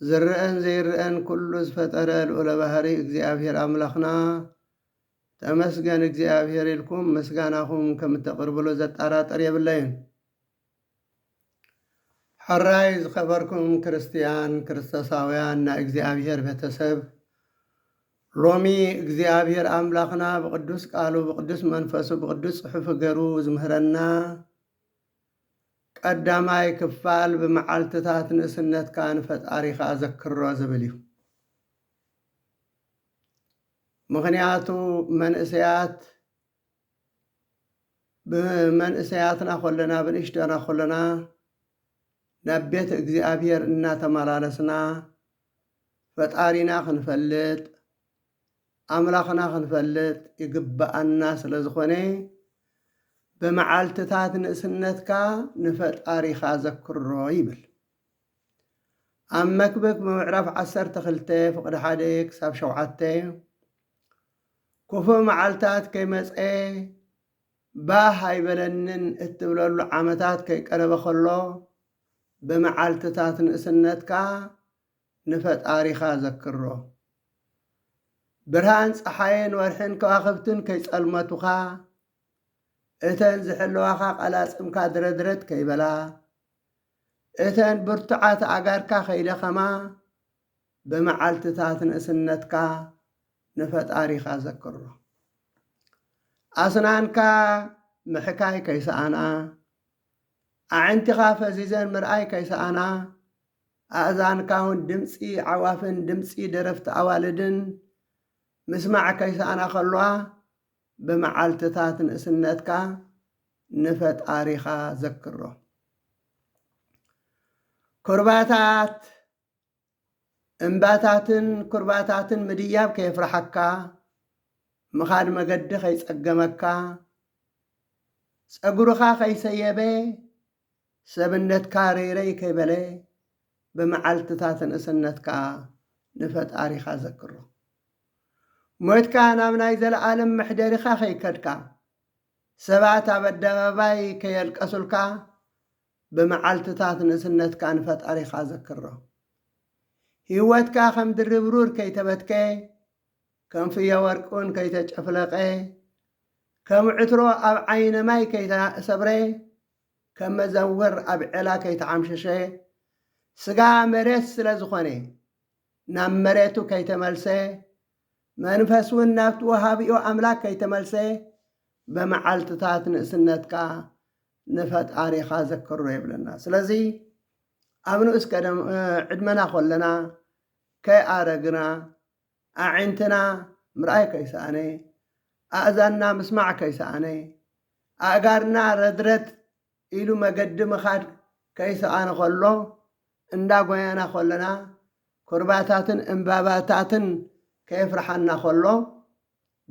ዝረኣን ዘይረኣን ኩሉ ዝፈጠረ ልኡለ ባህሪ እግዚኣብሔር ኣምላኽና ተመስገን እግዚኣብሔር ኢልኩም ምስጋናኹም ከም እተቕርብሉ ዘጣራጥር የብለይን። ሕራይ ዝኸበርኩም ክርስትያን ክርስቶሳውያን ናይ እግዚኣብሔር ቤተሰብ ሎሚ እግዚኣብሔር ኣምላኽና ብቕዱስ ቃሉ ብቕዱስ መንፈሱ ብቕዱስ ጽሑፍ ገሩ ዝምህረና ቀዳማይ ክፋል ብመዓልትታት ንእስነትካ ንፈጣሪኻ ዘክሮ ዝብል እዩ። ምኽንያቱ መንእሰያት ብመንእሰያትና ኮለና ብንእሽተና ኮለና ናብ ቤት እግዚኣብሔር እናተመላለስና ፈጣሪና ክንፈልጥ ኣምላኽና ክንፈልጥ ይግብኣና ስለ ዝኾነ ብመዓልትታት ንእስነትካ ንፈጣሪኻ ዘክሮ ይብል። ኣብ መክብብ ምዕራፍ ዓሰርተ ክልተ ፍቕዲ ሓደ ክሳብ ሸውዓተ ክፉእ መዓልታት ከይመፀ ባህ ኣይበለንን እትብለሉ ዓመታት ከይቀረበ ከሎ ብመዓልትታት ንእስነትካ ንፈጣሪኻ ዘክሮ። ብርሃን ጸሓይን ወርሕን ከዋኽብትን ከይጸልመቱኻ፣ እተን ዝሕልዋኻ ቀላጽምካ ድረድረት ከይበላ፣ እተን ብርቱዓት ኣእጋርካ ከይደኸማ፣ ብመዓልትታት ንእስነትካ ንፈጣሪኻ ዘክሮ። ኣስናንካ ምሕካይ ከይሰኣና፣ ኣዕንቲኻ ፈዚዘን ምርኣይ ከይሰኣና፣ ኣእዛንካውን ድምጺ ኣዕዋፍን ድምጺ ደረፍቲ ኣዋልድን ምስማዕ ከይሰኣና ከለዋ፣ ብመዓልትታት ንእስነትካ ንፈጣሪኻ ዘክሮ። ኩርባታት እምባታትን ኩርባታትን ምድያብ ከየፍርሓካ፣ ምኻድ መገዲ ከይጸገመካ፣ ጸጉርኻ ከይሰየበ ሰብነትካ ረይረይ ከይበለ ብመዓልትታት ንእስነትካ ንፈጣሪኻ ዘክሮ። ሞትካ ናብ ናይ ዘለኣለም መሕደሪኻ ከይከድካ፣ ሰባት ኣብ ኣደባባይ ከየልቀሱልካ ብመዓልትታት ንእስነትካ ንፈጣሪኻ ዘክሮ። ህይወትካ ከም ድርብሩር ከይተበትከ ከም ፍዮ ወርቅውን ከይተጨፍለቐ፣ ከም ዕትሮ ኣብ ዓይነ ማይ ከይተሰብረ፣ ከም መዘውር ኣብ ዔላ ከይተዓምሸሸ፣ ስጋ መሬት ስለ ዝኾነ ናብ መሬቱ ከይተመልሰ፣ መንፈስውን ናብቲ ወሃቢኡ ኣምላክ ከይተመልሰ፣ ብመዓልትታት ንእስነትካ ንፈጣሪኻ ዘክሮ ይብለና። ስለዚ ኣብ ንኡስ ዕድመና ኮለና ከይኣረግና ኣዒንትና ምርኣይ ከይሰኣነ፣ ኣእዛንና ምስማዕ ከይሰኣነ፣ ኣእጋርና ረድረድ ኢሉ መገዲ ምኻድ ከይሰኣነ ከሎ፣ እንዳ ጎየና ከሎና፣ ኩርባታትን እምባባታትን ከየፍርሓና ከሎ፣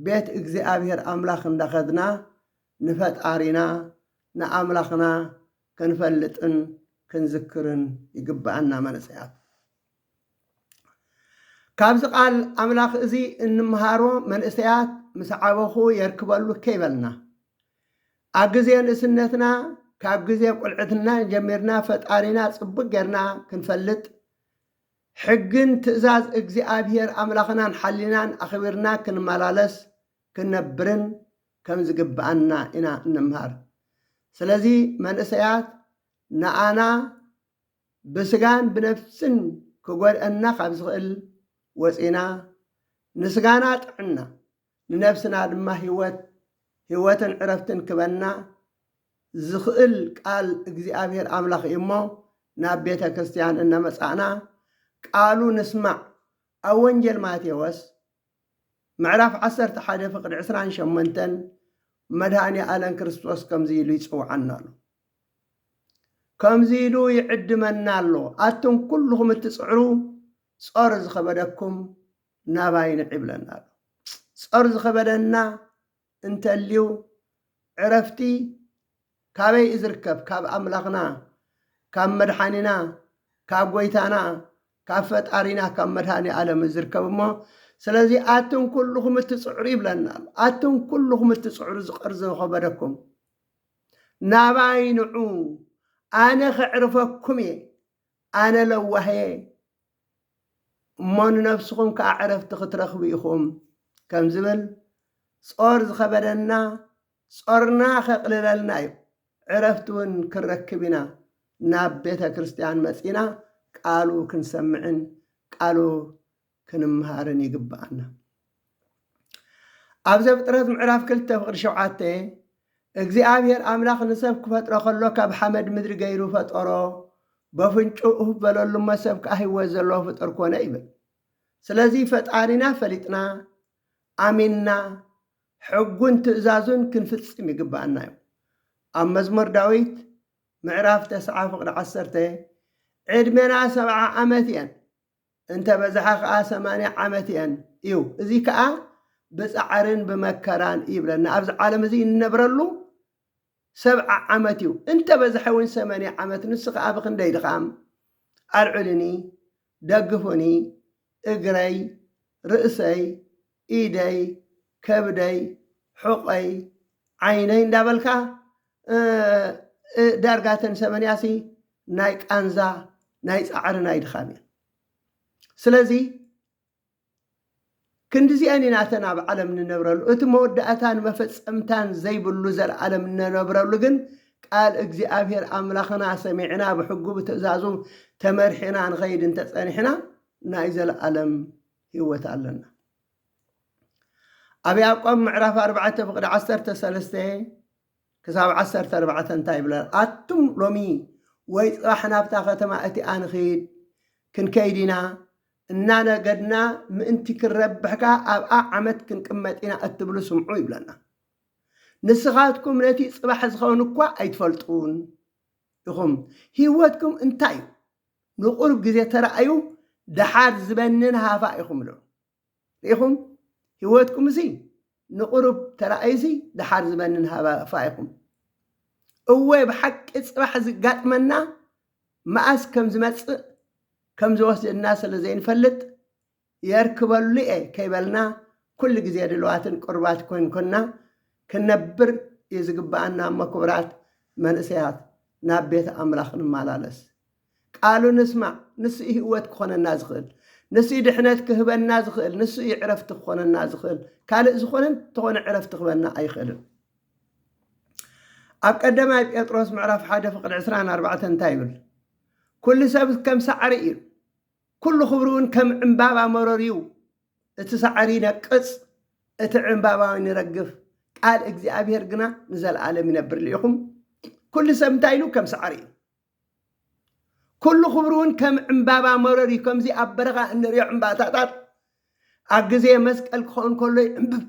ቤት እግዚኣብሄር ኣምላኽ እንዳኸድና ንፈጣሪና ንኣምላኽና ክንፈልጥን ክንዝክርን ይግብኣና መንእሰያት። ካብዚ ቃል ኣምላኽ እዚ እንምሃሮ መንእሰያት ምስ ዓበኹ የርክበሉ ከይበልና ኣብ ግዜ ንእስነትና ካብ ግዜ ቁልዕትና ጀሚርና ፈጣሪና ጽቡቅ ጌርና ክንፈልጥ ሕግን ትእዛዝ እግዚኣብሄር ኣምላኽናን ሓሊናን ኣኽቢርና ክንመላለስ ክንነብርን ከም ዝግብኣና ኢና እንምሃር ስለዚ መንእሰያት ንኣና ብስጋን ብነፍስን ክጎድኣና ካብ ዝኽእል ወጺና፣ ንስጋና ጥዕና፣ ንነፍስና ድማ ህይወት፣ ህይወትን ዕረፍትን ክበና ዝኽእል ቃል እግዚኣብሔር ኣምላኽ እዩ እሞ ናብ ቤተ ክርስቲያን እነመጻእና ቃሉ ንስማዕ። ኣብ ወንጌል ማቴዎስ ምዕራፍ ዓሰርተ ሓደ ፍቅዲ ዕስራን ሸሞንተን መድኃኔ ኣለም ክርስቶስ ከምዚ ኢሉ ይጽውዓና ኣሎ። ከምዚ ኢሉ ይዕድመና ኣሎ፣ ኣቱም ኩልኹም እትጽዕሩ ጾር ዝኸበደኩም ናባይ ንዕ ይብለና ኣሎ። ጾር ዝኸበደና እንተልዩ ዕረፍቲ ካበይ እዩ ዝርከብ? ካብ ኣምላኽና፣ ካብ መድሓኒና፣ ካብ ጎይታና፣ ካብ ፈጣሪና፣ ካብ መድሃኔ ኣለም እዩ ዝርከብ እሞ ስለዚ ኣቱም ኩሉኹም እትጽዕሩ ይብለና ኣሎ። ኣቱም ኩሉኹም እትጽዕሩ ዝቐርዘ ዝኸበደኩም ናባይ ንዑ ኣነ ከዕርፈኩም እየ ኣነ ለዋህ እየ እሞ ንነብስኹም ከኣ ዕረፍቲ ክትረኽቡ ኢኹም ከም ዝብል፣ ጾር ዝኸበደና ጾርና ከቕልለልና እዩ፣ ዕረፍቲ እውን ክንረክብ ኢና ናብ ቤተ ክርስትያን መጺእና ቃሉ ክንሰምዕን ቃሉ ክንምሃርን ይግብኣና። ኣብ ዘፍጥረት ምዕራፍ ክልተ ፍቕዲ ሸውዓተ እግዚኣብሔር ኣምላኽ ንሰብ ክፈጥሮ ከሎ ካብ ሓመድ ምድሪ ገይሩ ፈጠሮ በፍንጩ እፍ በለሉ እሞ ሰብ ከዓ ህይወት ዘለዎ ፍጥር ኮነ ይብል። ስለዚ ፈጣሪና ፈሊጥና ኣሚንና ሕጉን ትእዛዙን ክንፍጽም ይግብኣና እዩ። ኣብ መዝሙር ዳዊት ምዕራፍ ተስዓ ፍቕዲ ዓሰርተ ዕድሜና ሰብዓ ዓመት እየን እንተ በዝሓ ከኣ ሰማንያ ዓመት እየን እዩ። እዚ ከኣ ብጻዕርን ብመከራን ይብለና። ኣብዚ ዓለም እዚ እንነብረሉ ሰብዓ ዓመት እዩ። እንተ በዝሐ እውን ሰመንያ ዓመት ንሱ ከኣ ብክንደይ ድኻም ኣልዕሉኒ፣ ደግፉኒ፣ እግረይ፣ ርእሰይ፣ ኢደይ ከብደይ ሑቐይ ዓይነይ እንዳበልካ ዳርጋ እተን ሰመንያሲ ናይ ቃንዛ ናይ ፃዕሪ ናይ ድኻም እየን ስለዚ ክንዲዚኣን ኢና እተን ኣብ ዓለም ንነብረሉ እቲ መወዳእታን መፈፀምታን ዘይብሉ ዘለዓለም ንነብረሉ ግን ቃል እግዚኣብሔር ኣምላኽና ሰሚዕና ብሕጉ ብትእዛዙ ተመርሒና ንኸይድ እንተፀኒሕና ናይ ዘለዓለም ህይወት ኣለና። ኣብ ያዕቆብ ምዕራፍ ኣርባዕተ ፍቕዲ ዓሰርተ ሰለስተ ክሳብ ዓሰርተ ኣርባዕተ እንታይ ይብለና? ኣቱም ሎሚ ወይ ጽባሕ ናብታ ከተማ እቲኣ ንኽይድ ክንከይድ ኢና እናነገድና ምእንቲ ክንረብሕ ከኣ ኣብኣ ዓመት ክንቅመጥ ኢና እትብሉ ስምዑ ይብለና። ንስኻትኩም ነቲ ጽባሕ ዝኸውን እኳ ኣይትፈልጡን ኢኹም። ህይወትኩም እንታይ እዩ? ንቁሩብ ግዜ ተራኣዩ ደሓር ዝበንን ሃፋ ኢኹም እሎ ርኢኹም ሂወትኩም እዚ ንቁሩብ ተራኣዩ እዚ ደሓር ዝበንን ሃፋ ኢኹም እወ ብሓቂ ጽባሕ ዝጋጥመና መኣስ ከም ዝመጽእ ከም ዝወስደና ስለ ዘይንፈልጥ የርክበሉ'የ ከይበልና ኩሉ ግዜ ድልዋትን ቅሩባት ኮንኮንና ክንነብር እዩ ዝግብኣና እሞ ክቡራት መንእሰያት ናብ ቤት ኣምላኽ ንማላለስ ቃሉ ንስማዕ ንሱ እዩ ህወት ክኾነና ዝኽእል ንሱ እዩ ድሕነት ክህበና ዝኽእል ንሱ እዩ ዕረፍቲ ክኾነና ዝኽእል ካልእ ዝኾነ እንተኾነ ዕረፍቲ ክህበና ኣይኽእልን ኣብ ቀዳማይ ጴጥሮስ ምዕራፍ ሓደ ፍቕዲ ዕስራን ኣርባዕተን እንታይ ይብል ኩሉ ሰብ ከም ሳዕሪ እዩ ኩሉ ክብሪውን ከም ዕምባባ መሮርዩ፣ እቲ ሳዕር ይነቅጽ፣ እቲ ዕምባባውን ይረግፍ፣ ቃል እግዚኣብሄር ግና ንዘለኣለም ይነብር ልኢኹም፣ ኩሉ ሰብ እንታይ ኢሉ ከም ሳዕር እዩ፣ ኩሉ ክብሪውን ከም ዕምባባ መሮርዩ፣ ከምዚ ኣብ በረኻ እንርእዮ ዕምባታታት ኣብ ግዜ መስቀል ክኸውን ከሎ ይዕምብብ፣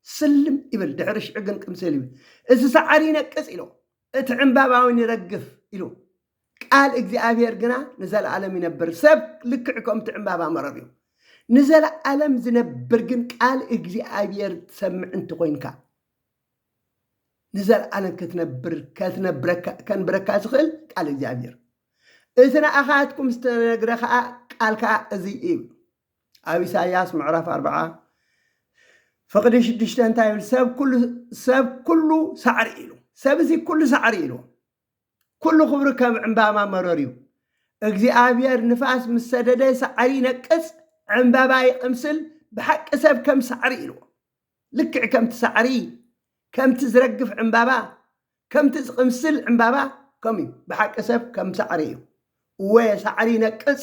ስልም፣ ይብል፣ ድሕሪ ሽዑ ግን ቅምስል ይብል፣ እቲ ሳዕር ይነቅጽ ኢሉ፣ እቲ ዕምባባውን ይረግፍ ኢሉ። ቃል እግዚኣብሔር ግና ንዘለዓለም ይነብር። ሰብ ልክዕ ከምቲ ዕምባባ መረር እዩ። ንዘለዓለም ዝነብር ግን ቃል እግዚኣብሔር ትሰምዕ እንተኾይንካ ንዘለዓለም ክትነብር ከንብረካ ዝኽእል ቃል እግዚኣብሔር እቲ ንኣኻትኩም ዝተነግረ ከዓ ቃል ከዓ እዚ እዩ ኣብ ኢሳያስ ምዕራፍ ኣርብዓ ፍቕዲ ሽዱሽተ እንታይ ይብል ሰብ ኩሉ ሳዕሪ ኢሉ ሰብ እዚ ኩሉ ሳዕሪ ኢሉ ኩሉ ክብሪ ከም ዕምባማ መሮር እዩ እግዚኣብሔር ንፋስ ምስ ሰደደ ሳዕሪ ይነቅጽ ዕምበባ ይቅምስል ብሓቂ ሰብ ከም ሳዕሪ ኢልዎ ልክዕ ከምቲ ሳዕሪ ከምቲ ዝረግፍ ዕምባባ ከምቲ ዝቅምስል ዕምባባ ከምኡ እዩ ብሓቂ ሰብ ከም ሳዕሪ እዩ እወ ሳዕሪ ይነቅጽ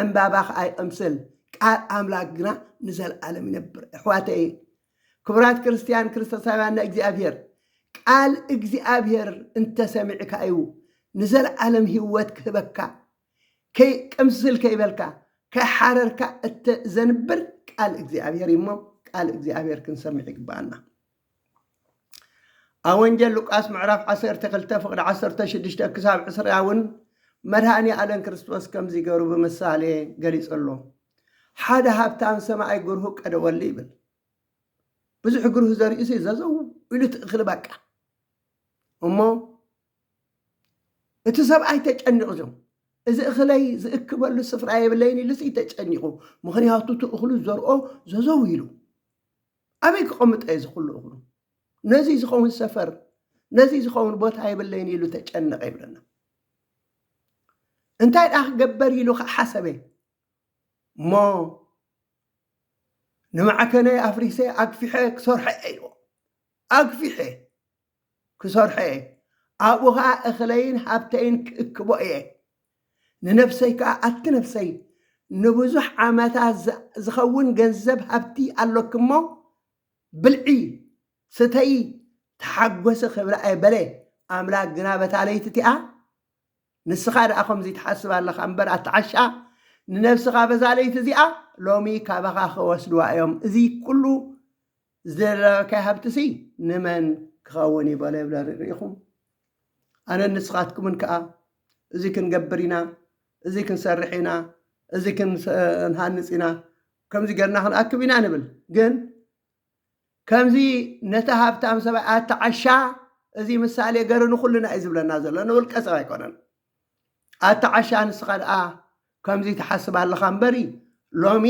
ዕንባባ ከኣ ይቕምስል፣ ቃል ኣምላክ ግና ንዘልኣለም ይነብር። ኣሕዋተይ ክቡራት ክርስትያን ክርስቶሳውያን ናይ እግዚኣብሔር ቃል እግዚኣብሔር እንተሰሚዕካ እዩ ንዘልኣለም ህይወት ክህበካ ቅምስል ከይበልካ ከይሓረርካ እተዘንብር ቃል እግዚኣብሔር እዩሞ ቃል እግዚኣብሔር ክንሰምዕ ይግባኣና። ኣብ ወንጌል ሉቃስ ምዕራፍ ዓሰርተ ክልተ ፍቕዲ ዓሰርተ ሽዱሽተ ክሳብ ዕስራ እውን መድሃኒ ኣለም ክርስቶስ ከምዚ ገሩ ብምሳሌ ገሊጹ ኣሎ ሓደ ሃብታም ሰማይ ግርሁ ቀደወሉ ይብል ብዙሕ ግርሁ ዘርእዩ ሲ ዘዘው ኢሉ ትእኽሊ በቃ እሞ እቲ ሰብኣይ ተጨኒቑ እዮም እዚ እኽለይ ዝእክበሉ ስፍራ የብለይን ኢሉሲ ተጨኒቑ ምክንያቱ ትእኽሉ ዘርኦ ዘዘው ኢሉ ኣበይ ክቐምጦ እየ ዝኹሉ እኽሉ? ነዙይ ዝኸውን ሰፈር፣ ነዙይ ዝኸውን ቦታ የብለይን ኢሉ ተጨነቐ ይብለና። እንታይ ደኣ ክገበር ኢሉ ከዓ ሓሰበ እሞ ንማዕከነይ ኣፍሪሰ ኣግፊሐ ክሰርሖ እየ ኢልዎ ኣግፊሐ ክሰርሖ እየ፣ ኣብኡ ኸኣ እኽለይን ሃብተይን ክእክቦ እየ፣ ንነፍሰይ ከኣ፣ ኣቲ ነፍሰይ፣ ንብዙሕ ዓመታት ዚኸውን ገንዘብ ሃብቲ ኣሎኪ እሞ፣ ብልዒ፣ ስተዪ፣ ተሓጐሲ ኽብላ እየ በለ። ኣምላክ ግና በታ ለይቲ እቲኣ፣ ንስኻ ደኣ ኸምዙይ ትሓስብ ኣለኻ እምበር፣ ኣቲ ዓሻ፣ ንነፍስኻ በዛ ለይቲ እዚኣ፣ ሎሚ ካባኻ ኺወስድዋ እዮም፣ እዙይ ኵሉ ዝደለናዮካይ ሃብትሲ ንመን ክኸውን እዩ በሎ ይብለ ርኢኹም ኣነን ንስኻትኩምን ከኣ እዚ ክንገብር ኢና እዚ ክንሰርሕ ኢና እዚ ክንሃንፅ ኢና ከምዚ ገርና ክንኣክብ ኢና ንብል ግን ከምዚ ነቲ ሃብታም ሰብኣይ ኣተዓሻ እዚ ምሳሌ ገሩ ንኩልና እዩ ዝብለና ዘሎ ንውልቀ ሰብ ኣይኮነን ኣታ ዓሻ ንስኻ ድኣ ከምዚ ትሓስብ ኣለኻ እምበሪ ሎሚ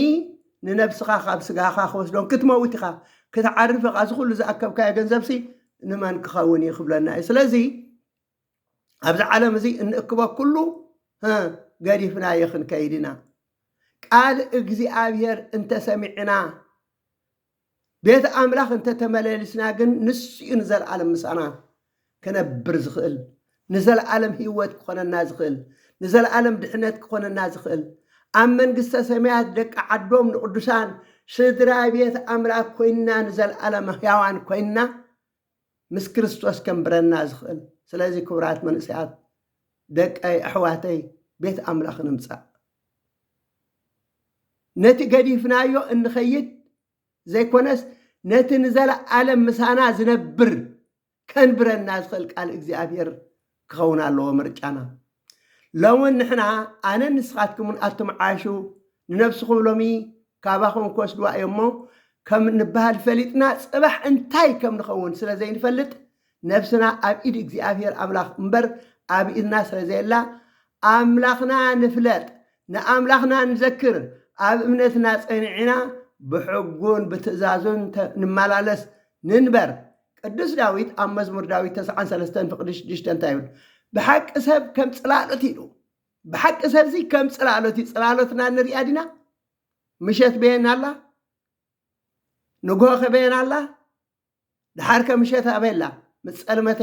ንነብስኻ ካብ ስጋኻ ክወስዶን ክትመውት ኢኻ ክትዓርፍ ኢኻ እዚ ኩሉ ዝኣከብካዮ ገንዘብሲ ንመን ክኸውን እዩ ክብለና እዩ ስለዚ ኣብዚ ዓለም እዚ እንእክቦ ኩሉ ገዲፍናዮ ክንከይድ ኢና ቃል እግዚኣብሔር እንተሰሚዕና ቤት ኣምላኽ እንተ ተመለሊስና ግን ንሱ እዩ ንዘለኣለም ምሳና ክነብር ዝኽእል፣ ንዘለኣለም ህይወት ክኾነና ዝኽእል፣ ንዘለኣለም ድሕነት ክኾነና ዝኽእል። ኣብ መንግስተ ሰማያት ደቂ ዓዶም ንቕዱሳን ስድራ ቤት ኣምላኽ ኮይንና ንዘለኣለም ሕያዋን ኮይንና ምስ ክርስቶስ ከንብረና ዝኽእል። ስለዚ ክቡራት መንእሰያት ደቀይ ኣሕዋተይ ቤት ኣምላኽ ንምጻእ ነቲ ገዲፍናዮ እንኸይድ ዘይኮነስ ነቲ ንዘለኣለም ምሳና ዝነብር ከንብረና ዝኽእል ቃል እግዚኣብሔር ክኸውን ኣለዎ ምርጫና። ሎሚ ንሕና ኣነን ንስኻትኩምን ኣትምዓሹ ንነብስኹም ሎሚ ካባኹም ክወስድዋ እዮምሞ ከም እንበሃል ፈሊጥና ጽባሕ እንታይ ከም ንኸውን ስለ ዘይንፈልጥ ነብስና ኣብ ኢድ እግዚኣብሄር ኣምላኽ እምበር ኣብ ኢድና ስለ ዘየላ ኣምላኽና ንፍለጥ ንኣምላኽና ንዘክር ኣብ እምነትና ጸኒዕና ብሕጉን ብትእዛዙን ንመላለስ ንንበር ቅዱስ ዳዊት ኣብ መዝሙር ዳዊት ተስዓን ሰለስተን ፍቕዲ ሽዱሽተ እንታይ ይብል? ብሓቂ ሰብ ከም ጽላሎት ኢሉ ብሓቂ ሰብዚ ከም ጽላሎት እዩ። ጽላሎትና ንሪኣ ዲና? ምሸት በየን ኣላ? ንግሆ ከበየን ኣላ? ድሓር ከ ምሸት ኣበላ ምስ ጸልመተ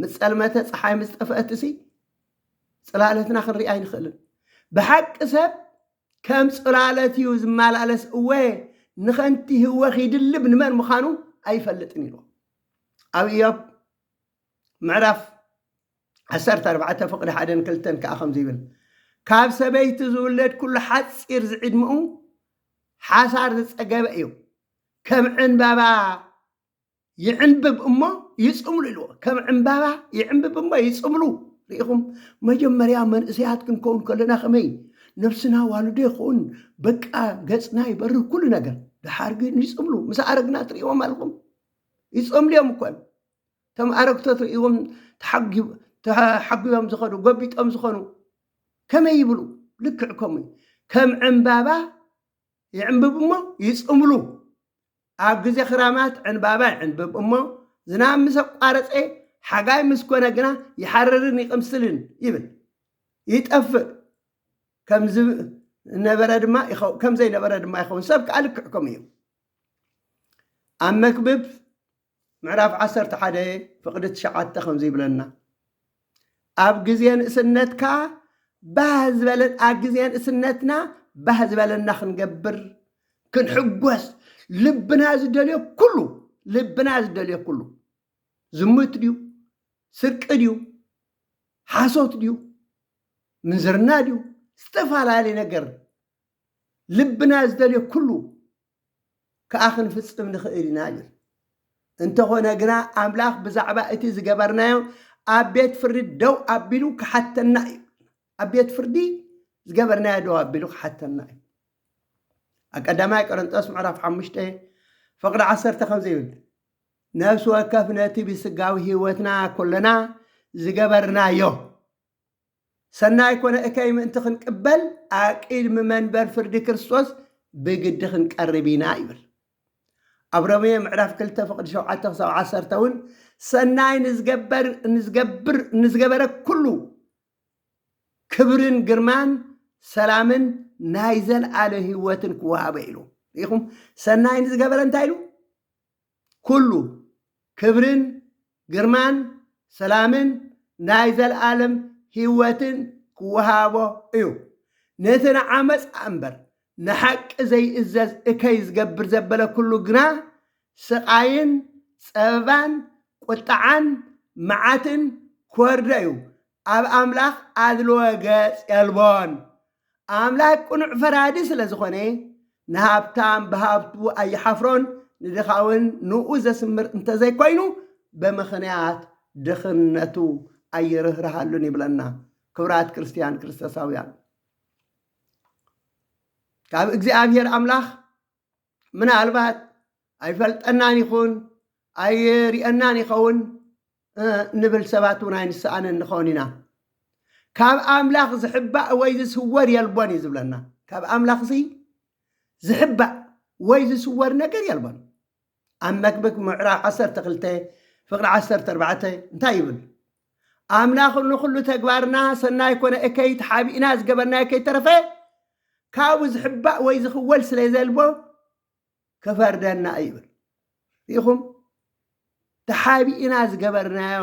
ምስ ጸልመተ ፀሓይ ምስ ጠፍአትሲ ጽላለትና ክንርኢ ኣይንኽእልን። ብሓቂ ሰብ ከም ጽላለት እዩ ዝመላለስ እወ ንኸንቲ ህወ ኺድልብ ንመን ምዃኑ ኣይፈልጥን ኢሉ ኣብ እዮብ ምዕራፍ ዓሰርተ ኣርባዕተ ፍቕዲ ሓደን ክልተን ከዓ ከምዚ ይብል ካብ ሰበይቲ ዝውለድ ኩሉ ሓፂር ዝዕድምኡ ሓሳር ዝፀገበ እዩ ከም ዕንባባ ይዕንብብ እሞ ይጽምሉ ኢልዎ ከም ዕምባባ ይዕንብብ እሞ ይጽምሉ ርኢኹም መጀመርያ መንእሰያት ክንከውን ከለና ከመይ ነብስና ዋልዶ ይኸውን በቃ ገጽና ይበርህ ኩሉ ነገር ድሓር ግን ይጽምሉ ምስ ኣረግና ትርእዎም ኣለኹም ይጸምሉ እዮም እኮ እቶም ኣረግቶ ትርእዎም ተሓጒቦም ዝኾኑ ጎቢጦም ዝኾኑ ከመይ ይብሉ ልክዕ ከምኡ ከም ዕምባባ ይዕምብብ እሞ ይጽምሉ ኣብ ግዜ ክራማት ዕንባባ ይዕንብብ እሞ ዝናብ ምስ ኣቋረጸ ሓጋይ ምስ ኮነ ግና ይሓርርን ይቕምስልን ይብል ይጠፍእ ከም ዝነበረ ድማ ከም ዘይነበረ ድማ ይኸውን ሰብ ከኣ ልክዕ ከምኡ እዩ ኣብ መክብብ ምዕራፍ ዓሰርተ ሓደ ፍቕዲ ትሽዓተ ከምዚ ይብለና ኣብ ግዜ ንእስነትካ ባህ ዝበለ ኣብ ግዜ ንእስነትና ባህ ዝበለና ክንገብር ክንሕጎስ ልብና ዝደልዮ ኩሉ ልብና ዝደልዮ ኩሉ ዝሙት ድዩ ስርቂ ድዩ ሓሶት ድዩ ምንዝርና ድዩ ዝተፈላለየ ነገር ልብና ዝደልዮ ኩሉ ከኣ ክንፍጽም ንኽእል ኢና ይብል። እንተኾነ ግና ኣምላኽ ብዛዕባ እቲ ዝገበርናዮ ኣብ ቤት ፍርዲ ደው ኣቢሉ ክሓተና እዩ። ኣብ ቤት ፍርዲ ዝገበርናዮ ደው ኣቢሉ ክሓተና እዩ። ኣብ ቀዳማይ ቆረንጦስ ምዕራፍ ሓሙሽተ ፍቕዲ ዓሰርተ ከምዚ ይብል ነፍሲ ወከፍ ነቲ ብስጋዊ ህይወትና ኮለና ዝገበርናዮ ሰናይ ኮነ እከይ ምእንቲ ክንቅበል ኣብ ቅድሚ መንበር ፍርዲ ክርስቶስ ብግዲ ክንቀርብ ኢና ይብል። ኣብ ሮሜ ምዕራፍ ክልተ ፍቕዲ ሸውዓተ ክሳብ ዓሰርተ እውን ሰናይ ንዝገበር ንዝገብር ንዝገበረ ኩሉ ክብርን ግርማን ሰላምን ናይ ዘልኣለ ህይወትን ክወሃበ ኢሉ ሪኢኹም ሰናይ ንዝገበረ እንታይ ኢሉ ኩሉ ክብርን ግርማን ሰላምን ናይ ዘልኣለም ሂወትን ክወሃቦ እዩ ነቲ ንዓመጽ ኣምበር ንሓቂ ዘይእዘዝ እከይ ዝገብር ዘበለ ኩሉ ግና ስቃይን ጸበባን ቁጥዓን መዓትን ክወርዶ እዩ ኣብ ኣምላኽ ኣድልዎ ገጽ የልቦን። ኣምላክ ቅኑዕ ፈራዲ ስለ ዝኾነ ንሃብታም ብሃብቱ ኣይሓፍሮን ንድኻውን ንኡ ዘስምር እንተዘይኮይኑ ብምኽንያት ድኽነቱ ኣይርህርሃሉን ይብለና። ክብራት ክርስትያን ክርስቶሳውያን ካብ እግዚኣብሔር ኣምላኽ ምናልባት ኣይፈልጠናን ይኹን ኣይርየናን ይኸውን ንብል ሰባት እውን ኣይንሰኣንን ንኸውን ኢና ካብ ኣምላኽ ዝሕባእ ወይ ዝስወር የልቦን እዩ ዝብለና ካብ ኣምላኽ ሲ ዝሕባእ ወይ ዝስወር ነገር የልቦን ኣብ መክብክ ምዕራፍ 12 ፍቅሪ 14 እንታይ ይብል ኣምላኽ ንኹሉ ተግባርና ሰናይ ኮነ እከይ ተሓቢእና ዝገበርናዮ ከይተረፈ ካብኡ ዝሕባእ ወይ ዝኽወል ስለ ዘልቦ ክፈርደና እዩ ይብል ርኢኹም ተሓቢእና ዝገበርናዮ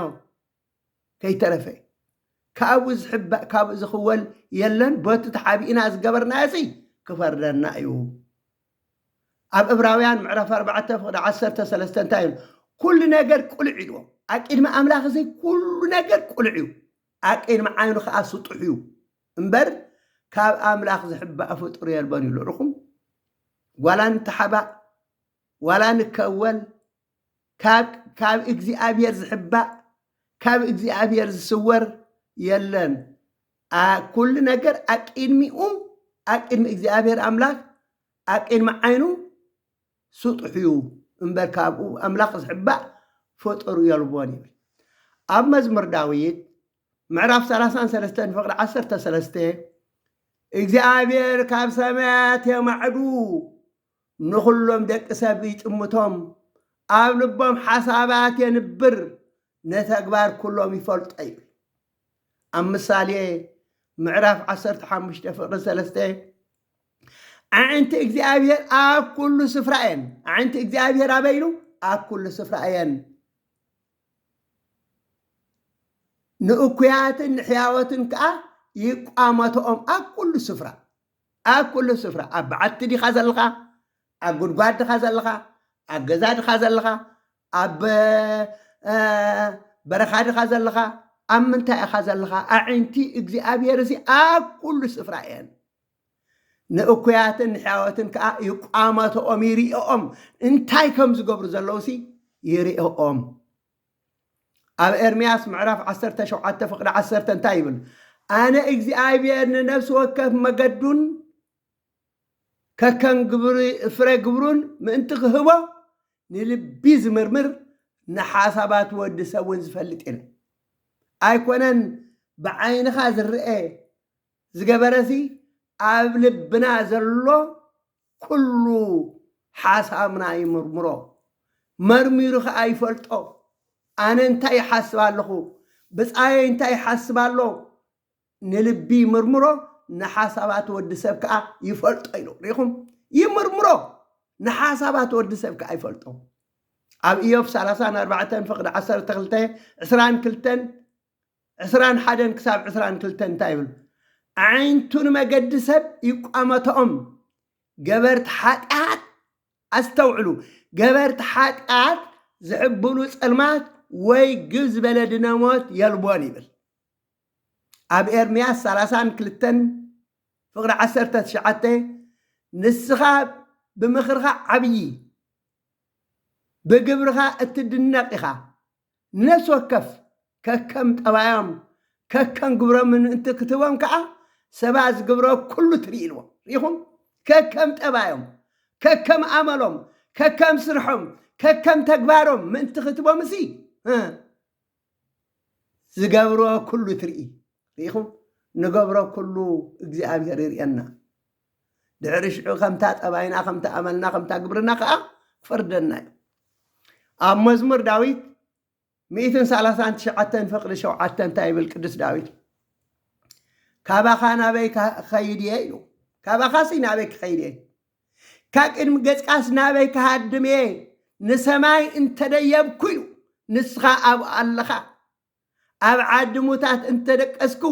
ከይተረፈ ካብኡ ዝሕባእ ካብኡ ዝኽወል የለን በቱ ተሓቢእና ዝገበርናዮ ሲ ክፈርደና እዩ ኣብ እብራውያን ምዕራፍ ኣርባዕተ ፍቕዲ ዓሰርተ ሰለስተ እንታይ ኢሉ ኩሉ ነገር ቁልዕ ኢልዎ ኣቂድሚ ኣምላኽ እዚ ኩሉ ነገር ቁልዕ እዩ ኣቂድሚ ዓይኑ ከዓ ስጡሕ እዩ እምበር ካብ ኣምላኽ ዝሕባእ ፍጡር የልቦን ይብሉ ርኹም ዋላ ንተሓባእ ዋላ ንከወል ካብ ካብ እግዚኣብሔር ዝሕባእ ካብ እግዚኣብሔር ዝስወር የለን ኣ ኩሉ ነገር ኣቅድሚኡ ኣቅድሚ እግዚኣብሔር ኣምላክ ኣቅድሚ ዓይኑ ስጡሕ እዩ እምበር ካብኡ ኣምላክ ዝሕባእ ፍጡር የልቦን ይብል ኣብ መዝሙር ዳዊት ምዕራፍ 33 ፍቅሪ 13 እግዚኣብሔር ካብ ሰማያት የማዕዱ ንዅሎም ደቂ ሰብ ይጥምቶም፣ ኣብ ልቦም ሓሳባት የንብር፣ ነተግባር ኵሎም ይፈልጦ ይብል። ኣብ ምሳሌ ምዕራፍ ዓሰርተ ሓሙሽተ ፍቕሪ ሰለስተ ኣዒንቲ እግዚኣብሔር ኣብ ኵሉ ስፍራ እየን። ኣዒንቲ እግዚኣብሔር ኣበይ ኢሉ? ኣብ ኵሉ ስፍራ እየን። ንእኩያትን ንሕያዎትን ከኣ ይቋመተኦም ኣብ ኵሉ ስፍራ። ኣብ ኩሉ ስፍራ ኣብ በዓቲ ዲኻ ዘለኻ ኣብ ጉድጓድ ድኻ ዘለኻ ኣብ ገዛ ድኻ ዘለኻ ኣብ በረኻ ድኻ ዘለኻ ኣብ ምንታይ ኢኻ ዘለኻ ኣዒንቲ እግዚኣብሔርሲ ኣብ ኩሉ ስፍራ እየን ንእኩያትን ንሕያወትን ከዓ ይቋመተኦም ይርእኦም እንታይ ከም ዝገብሩ ዘለውሲ ይርእኦም ኣብ ኤርምያስ ምዕራፍ ዓሰርተ ሸውዓተ ፍቕዲ ዓሰርተ እንታይ ይብል? ኣነ እግዚኣብሄር ንነፍሲ ወከፍ መገዱን ከከም ግብሪ ፍረ ግብሩን ምእንቲ ክህቦ ንልቢ ዝምርምር ንሓሳባት ወዲ ሰብ እውን ዝፈልጥ እየ ኣይኮነን ብዓይንኻ ዝረአ ዝገበረሲ ኣብ ልብና ዘሎ ኩሉ ሓሳብና ይምርምሮ፣ መርሚሩ ኸኣ ይፈልጦ። ኣነ እንታይ ይሓስብ ኣለኹ፣ ብጻየይ እንታይ ይሓስብ ኣሎ፣ ንልቢ ይምርምሮ፣ ንሓሳባት ወዲ ሰብ ከኣ ይፈልጦ ኢሉ። ርኢኹም? ይምርምሮ፣ ንሓሳባት ወዲ ሰብ ከኣ ይፈልጦ። ኣብ እዮብ ሰላሳን ኣርባዕተን ፍቕዲ ዓሰርተ ክልተ፣ ዕስራን ክልተን ዕስራን ሓደን ክሳብ ዕስራን ክልተን እንታይ ይብሉ? ኣዒንቱ ንመገዲ ሰብ ይቋመተኦም፣ ገበርቲ ሓጢኣት፣ ኣስተውዕሉ፣ ገበርቲ ሓጢኣት ዝሕብሉ ጸልማት ወይ ግብ ዝበለ ድነሞት የልቦን ይብል። ኣብ ኤርምያስ ሰላሳን ክልተን ፍቕሪ ዓሰርተ ትሽዓተ ንስኻ ብምኽርኻ ዓብዪ ብግብርኻ እትድነቕ ኢኻ፣ ንነፍሲ ወከፍ ከከም ጠባዮም ከከም ግብሮምን ምእንቲ ክትህቦም ከኣ ሰባ ዝግብሮ ኩሉ ትርኢልዎ ርኢኹም ከከም ጠባዮም ከከም ኣመሎም ከከም ስርሖም ከከም ተግባሮም ምእንቲ ክትቦምሲ ዝገብሮ ኩሉ ትርኢ ርኢኹም ንገብሮ ኩሉ እግዚኣብሔር ይርእየና ድሕሪ ሽዑ ከምታ ጠባይና ከምታ ኣመልና ከምታ ግብርና ከዓ ክፈርደና እዩ ኣብ መዝሙር ዳዊት ሚእትን ሰላሳን ትሽዓተን ፍቕዲ ሸውዓተ እንታይ ይብል ቅዱስ ዳዊት ካባኻ ናበይ ክኸይድ እየ ኢሉ ካባኻሲ ናበይ ክኸይድ እየ ካብ ቅድሚ ገጽካስ ናበይ ክሃድም እየ ንሰማይ እንተደየብኩ እዩ ንስኻ ኣብኡ ኣለኻ ኣብ ዓዲ ሙታት እንተደቀስኩ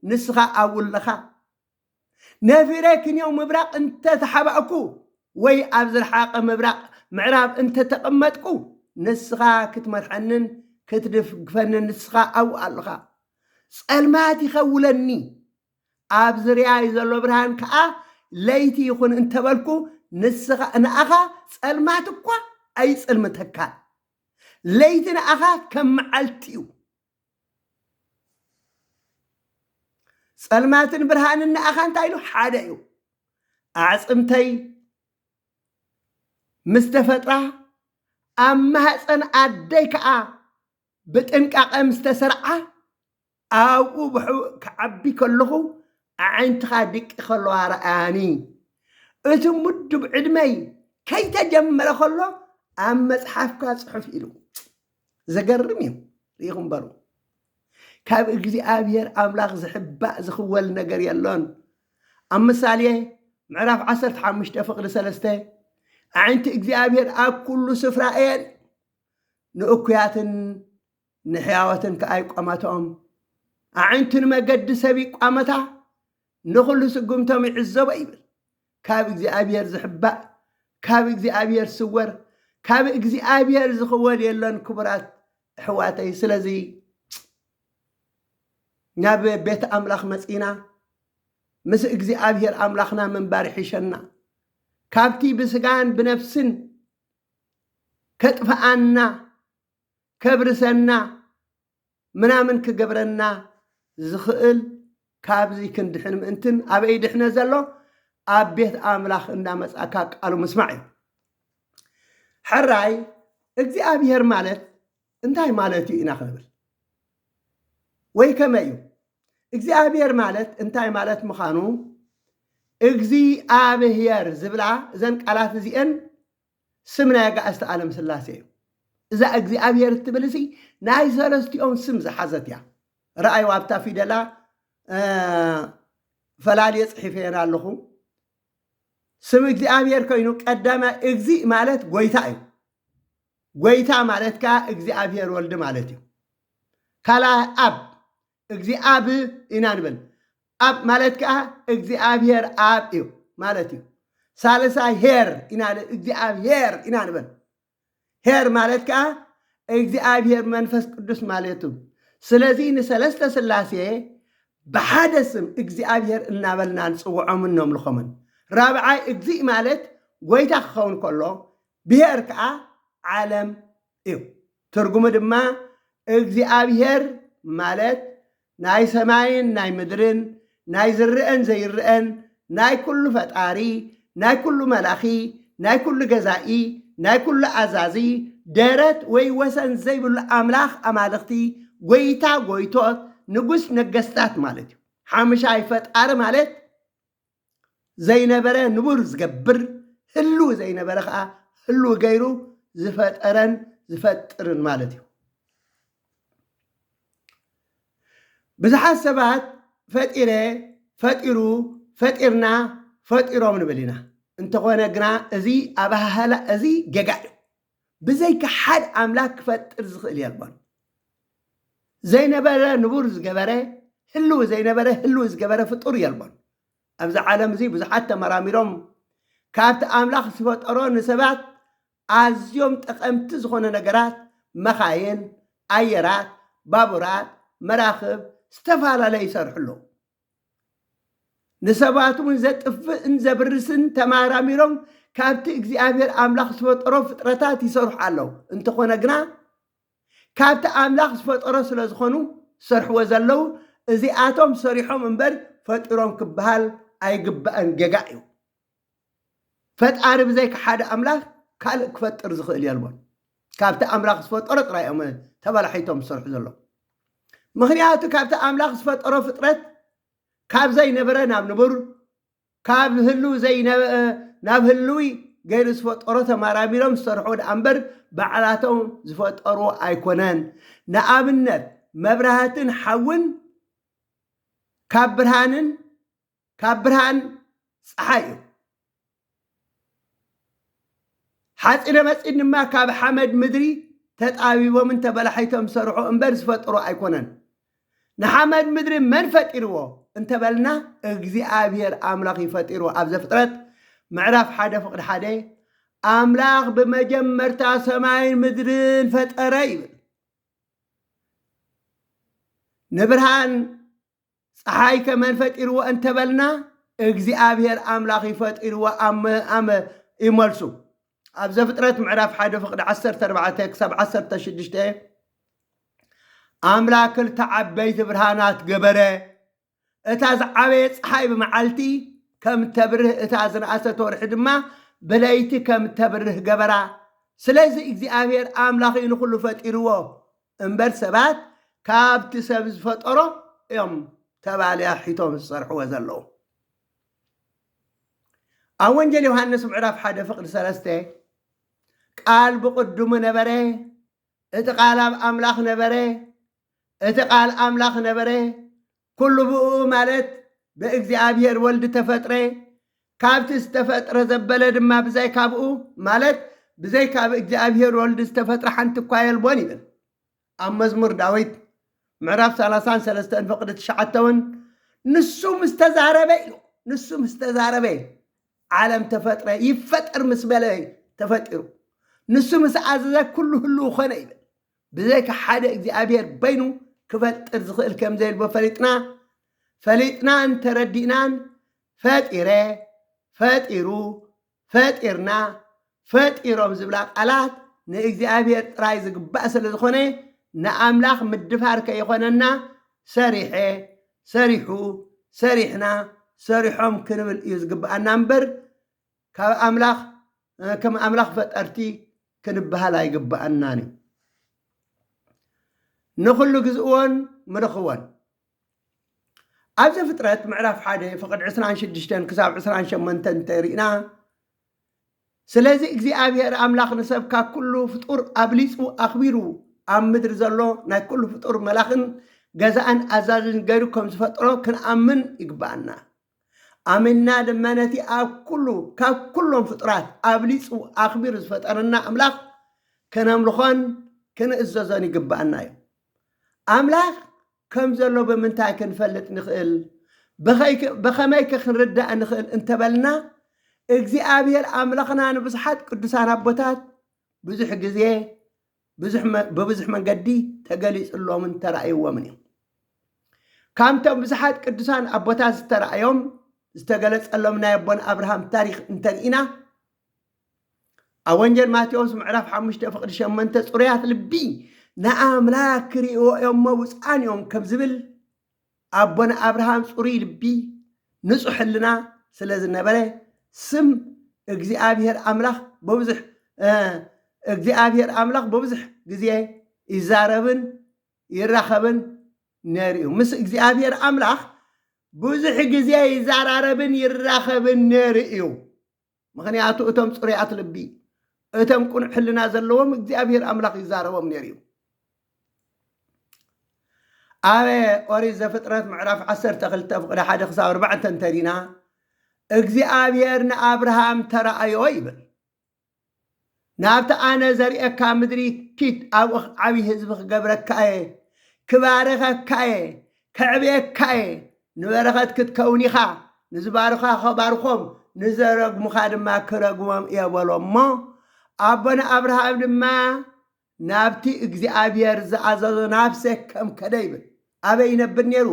ንስኻ ኣብኡ ኣለኻ። ነፊረ ክንየው ምብራቕ እንተ ተሓባእኩ ወይ ኣብ ዝረሓቐ ምብራቕ ምዕራብ እንተ ተቐመጥኩ ንስኻ ክትመርሐንን ክትድግፈንን ንስኻ ኣብኡ ኣለኻ። ጸልማት ይኸውለኒ ኣብ ዝርያይ ዘሎ ብርሃን ከኣ ለይቲ ይኹን እንተበልኩ ንስኻ ንኣኻ ጸልማት እኳ ኣይጽልምተካን። ለይቲ ንኣኻ ከም መዓልቲ'ዩ፣ ጸልማትን ብርሃንን ንኣኻ እንታይ ኢሉ ሓደ'ዩ። ኣዕጽምተይ ምስ ተፈጥራ ኣብ ማህጸን ኣደይ ከኣ ብጥንቃቐ ምስ ተሰርዓ ኣብኡ ብሕቡእ ክዓቢ ከለኹ ኣዒንትኻ ድቂ ከለዋ ርኣያኒ። እቲ ምዱብ ዕድመይ ከይተጀመረ ከሎ ኣብ መጽሓፍካ ጽሑፍ ኢሉ። ዘገርም እዩ። ርኢኹም በሉ። ካብ እግዚኣብሔር ኣምላኽ ዝሕባእ ዝኽወል ነገር የሎን። ኣብ ምሳሌ ምዕራፍ 15 ፍቕዲ ሰለስተ ኣዒንቲ እግዚኣብሔር ኣብ ኩሉ ስፍራ እየን ንእኩያትን ንሕያዎት እንተኣ ይቋመታኦም፣ ኣዒንቱ ንመገዲ ሰብ ይቋመታ፣ ንዅሉ ስጕምቶም ይዕዘቦ ይብል። ካብ እግዚኣብሄር ዝሕባእ፣ ካብ እግዚኣብሄር ዝስወር፣ ካብ እግዚኣብሄር ዝኽወል የሎን ክቡራት ኣሕዋተይ። ስለዚ ናብ ቤት ኣምላኽ መጺእና ምስ እግዚኣብሄር ኣምላኽና ምንባር ይሕሸና። ካብቲ ብስጋን ብነፍስን ከጥፍኣና ከብርሰና ምናምን ክገብረና ዝኽእል ካብዚ ክንድሕን ምእንትን ኣበይ ድሕነ ዘሎ ኣብ ቤት ኣምላኽ እንዳመጻእካ ቃሉ ምስማዕ እዩ ሕራይ እግዚኣብሔር ማለት እንታይ ማለት እዩ ኢና ክንብል ወይ ከመይ እዩ እግዚኣብሔር ማለት እንታይ ማለት ምዃኑ እግዚኣብሔር ዝብላ እዘን ቃላት እዚአን ስም ናይ ኣጋእዝተ ኣለም ስላሴ እዩ። እዛ እግዚኣብሔር እትብል እሲ ናይ ሰለስቲኦም ስም ዝሓዘት እያ። ረኣዩ ኣብታ ፊደላ ፈላልየ ጽሒፈየን ኣለኹ። ስም እግዚኣብሔር ኮይኑ ቀዳማይ እግዚእ ማለት ጎይታ እዩ። ጎይታ ማለት ከዓ እግዚኣብሔር ወልድ ማለት እዩ። ካልኣይ ኣብ እግዚኣብ ኢና ንብል ኣብ ማለት ከዓ እግዚኣብሔር ኣብ እዩ ማለት እዩ ሳልሳይ ሄር ኢና እግዚኣብሔር ኢና ንበል ሄር ማለት ከዓ እግዚኣብሔር መንፈስ ቅዱስ ማለት እዩ ስለዚ ንሰለስተ ስላሴ ብሓደ ስም እግዚኣብሔር እናበልና ንፅውዖምን ነምልኾምን ራብዓይ እግዚእ ማለት ጎይታ ክኸውን ከሎ ብሄር ከዓ ዓለም እዩ። ትርጉሙ ድማ እግዚኣብሄር ማለት ናይ ሰማይን ናይ ምድርን ናይ ዝረአን ዘይረአን ናይ ኩሉ ፈጣሪ ናይ ኩሉ መላኺ ናይ ኩሉ ገዛኢ ናይ ኩሉ ኣዛዚ ደረት ወይ ወሰን ዘይብሉ ኣምላኽ ኣማልኽቲ ጎይታ ጎይቶት ንጉስ ነገስታት ማለት እዩ። ሓሙሻይ ፈጣሪ ማለት ዘይነበረ ንቡር ዝገብር፣ ህሉው ዘይነበረ ኸኣ ህሉው ገይሩ ዝፈጠረን ዝፈጥርን ማለት እዩ። ብዙሓት ሰባት ፈጢረ፣ ፈጢሩ፣ ፈጢርና፣ ፈጢሮም ንብል ኢና። እንተኾነ ግና እዚ ኣበሃህላ እዚ ጌጋ እዩ። ብዘይካ ሓድ ኣምላክ ክፈጥር ዝኽእል የልቦን። ዘይነበረ ንቡር ዝገበረ ህልው ዘይነበረ ህልው ዝገበረ ፍጡር የልቦን። ኣብዚ ዓለም እዚ ብዙሓት ተመራሚሮም ካብቲ ኣምላኽ ዝፈጠሮ ንሰባት ኣዝዮም ጠቐምቲ ዝኾነ ነገራት መኻይን፣ ኣየራት፣ ባቡራት፣ መራኽብ ዝተፈላለዩ ይሰርሑ ኣለዉ። ንሰባት እውን ዘጥፍእን ዘብርስን ተማራሚሮም ካብቲ እግዚኣብሔር ኣምላኽ ዝፈጠሮ ፍጥረታት ይሰርሑ ኣለዉ እንተኾነ ግና ካብቲ ኣምላኽ ዝፈጠሮ ስለ ዝኾኑ ዝሰርሕዎ ዘለዉ እዚኣቶም ሰሪሖም እምበር ፈጢሮም ክበሃል ኣይግባእን ጌጋ እዩ ፈጣሪ ብዘይካ ሓደ ኣምላኽ ካልእ ክፈጥር ዝኽእል የልቦን። ካብቲ ኣምላኽ ዝፈጠሮ ጥራይ እዮም ተበላሒቶም ዝሰርሑ ዘለዉ። ምኽንያቱ ካብቲ ኣምላኽ ዝፈጠሮ ፍጥረት ካብ ዘይነበረ ናብ ንቡር፣ ካብ ህልው ናብ ህልዊ ገይሩ ዝፈጠሮ ተመራሚሮም ዝሰርሑ ደኣ እምበር ባዕላቶም ዝፈጠሩ ኣይኮነን። ንኣብነት መብራህትን ሓውን ካብ ብርሃንን ካብ ብርሃን ፀሓይ እዩ ሓፂነ መፂን ድማ ካብ ሓመድ ምድሪ ተጣቢቦምን ተበላሒቶም ዝሰርሑ እምበር ዝፈጠሩ ኣይኮነን ንሓመድ ምድሪ መን ፈጢርዎ እንተበልና እግዚኣብሔር ኣምላኽ እዩ ፈጢሩ ኣብ ዘፍጥረት ምዕራፍ ሓደ ፍቅዲ ሓደ ኣምላኽ ብመጀመርታ ሰማይን ምድርን ፈጠረ ይብል ንብርሃን ፀሓይ ከመን ፈጢርዎ እንተበልና እግዚኣብሔር ኣምላኽ እዩ ፈጢርዎ ኣመ ኣመ እዩ መልሱ ኣብ ዘፍጥረት ምዕራፍ ሓደ ፍቅዲ 14 ክሳብ 16 ኣምላኽ ክልተ ዓበይቲ ብርሃናት ገበረ እታ ዝዓበየ ፀሓይ ብመዓልቲ ከም ተብርህ እታ ዝነኣሰት ወርሒ ድማ ብለይቲ ከም ተብርህ ገበራ ስለዚ እግዚኣብሔር ኣምላኽ እዩ ንኩሉ ፈጢርዎ እምበር ሰባት ካብቲ ሰብ ዝፈጠሮ እዮም ተባልያ ሒቶም ዝሰርሕዎ ዘለዉ። ኣብ ወንጌል ዮሃንስ ምዕራፍ ሓደ ፍቅዲ ሰለስተ ቃል ብቅድሙ ነበረ፣ እቲ ቃል ኣብ ኣምላኽ ነበረ፣ እቲ ቃል ኣምላኽ ነበረ፣ ኩሉ ብእኡ ማለት በእግዚኣብሔር ወልድ ተፈጥረ፣ ካብቲ ዝተፈጥረ ዘበለ ድማ ብዛይ ካብኡ ማለት ብዘይ ካብ እግዚኣብሔር ወልድ ዝተፈጥረ ሓንቲ እኳ የልቦን ይብል። ኣብ መዝሙር ዳዊት ምዕራፍ ሰላሳን ሰለስተን ፍቕዲ ትሽዓተ እውን ንሱ ምስ ተዛረበ እዩ ንሱ ምስ ተዛረበ እዩ ዓለም ተፈጥረ ይፈጠር ምስ በለ ተፈጢሩ ንሱ ምስ ኣዘዘ ኩሉ ህልው ኾነ ይብል። ብዘይካ ሓደ እግዚኣብሔር በይኑ ክፈጥር ዝኽእል ከም ዘየልቦ ፈሊጥና ፈሊጥናን ተረዲእናን ፈጢረ፣ ፈጢሩ፣ ፈጢርና፣ ፈጢሮም ዝብላ ቃላት ንእግዚኣብሔር ጥራይ ዝግባእ ስለ ዝኾነ ንኣምላኽ ምድፋር ከይኾነና ሰሪሐ፣ ሰሪሑ፣ ሰሪሕና፣ ሰሪሖም ክንብል እዩ ዝግብኣና እምበር ካብ ኣምላኽ ከም ኣምላኽ ፈጠርቲ ክንበሃል ኣይግብኣናን እዩ። ንኹሉ ግዝእዎን ምርኽዎን ኣብ ዘፍጥረት ምዕራፍ ሓደ ፍቕድ ዕስራን ሽዱሽተን ክሳብ ዕስራን ሸመንተን እንተሪእና ስለዚ እግዚኣብሔር ኣምላኽ ንሰብ ካብ ኩሉ ፍጡር ኣብሊፁ ኣኽቢሩ ኣብ ምድሪ ዘሎ ናይ ኩሉ ፍጡር መላኽን ገዛእን ኣዛዝን ገይሩ ከም ዝፈጥሮ ክንኣምን ይግባኣና ኣሚንና ድማ ነቲ ኣብ ኩሉ ካብ ኩሎም ፍጡራት ኣብሊጹ ኣኽቢሩ ዝፈጠረና ኣምላኽ ከነምልኾን ክንእዘዞን ይግብኣና እዩ። ኣምላኽ ከም ዘሎ ብምንታይ ክንፈልጥ ንኽእል? በኸመይከ ክንርዳእ ንኽእል እንተበልና እግዚኣብሔር ኣምላኽና ንብዙሓት ቅዱሳን ኣቦታት ብዙሕ ግዜ ብብዙሕ መንገዲ ተገሊጹሎምን ተራእይዎምን እዩ። ካብቶም ብዙሓት ቅዱሳን ኣቦታት ዝተራእዮም ዝተገለጸሎም ናይ ኣቦን ኣብርሃም ታሪኽ እንተርኢና ኣብ ወንጀል ማቴዎስ ምዕራፍ ሓሙሽተ ፍቕዲ ሸመንተ ጽሩያት ልቢ ንኣምላክ ክርእይዎ እዮም እሞ ብፁዓን እዮም ከም ዝብል ኣቦና ኣብርሃም ጽሩይ ልቢ ንጹሕ ሕልና ስለ ዝነበረ ስም እግዚኣብሔር ኣምላኽ በብዙሕ እግዚኣብሔር ኣምላኽ በብዙሕ ግዜ ይዛረብን ይራኸብን ነይሩ እዩ ምስ እግዚኣብሔር ኣምላኽ ብዙሕ ግዜ ይዛራረብን ይራኸብን ነይሩ እዩ ምኽንያቱ እቶም ጽሩያት ልቢ፣ እቶም ቅኑዕ ሕልና ዘለዎም እግዚኣብሄር ኣምላኽ ይዛረቦም ነይሩ እዩ። ኣብ ኦሪት ዘፍጥረት ምዕራፍ 12 ፍቕዲ ሓደ ክሳብ ኣርባዕተ እንተሪና እግዚኣብሔር ንኣብርሃም ተራእዮ ይብል። ናብቲ ኣነ ዘርእየካ ምድሪ ኪድ፣ ኣብኡ ዓብዪ ህዝቢ ክገብረካ እየ፣ ክባርኸካ እየ፣ ከዕብየካ እየ፣ ንበረኸት ክትከውን ኢኻ፣ ንዝባርኹኻ ኸባርኾም፣ ንዘረግሙኻ ድማ ክረግሞም እየ በሎ እሞ፣ ኣቦና ኣብርሃም ድማ ናብቲ እግዚኣብሄር ዝኣዘዞ ናብ ሴከም ከደ ይብል። ኣበይ ይነብር ነይሩ?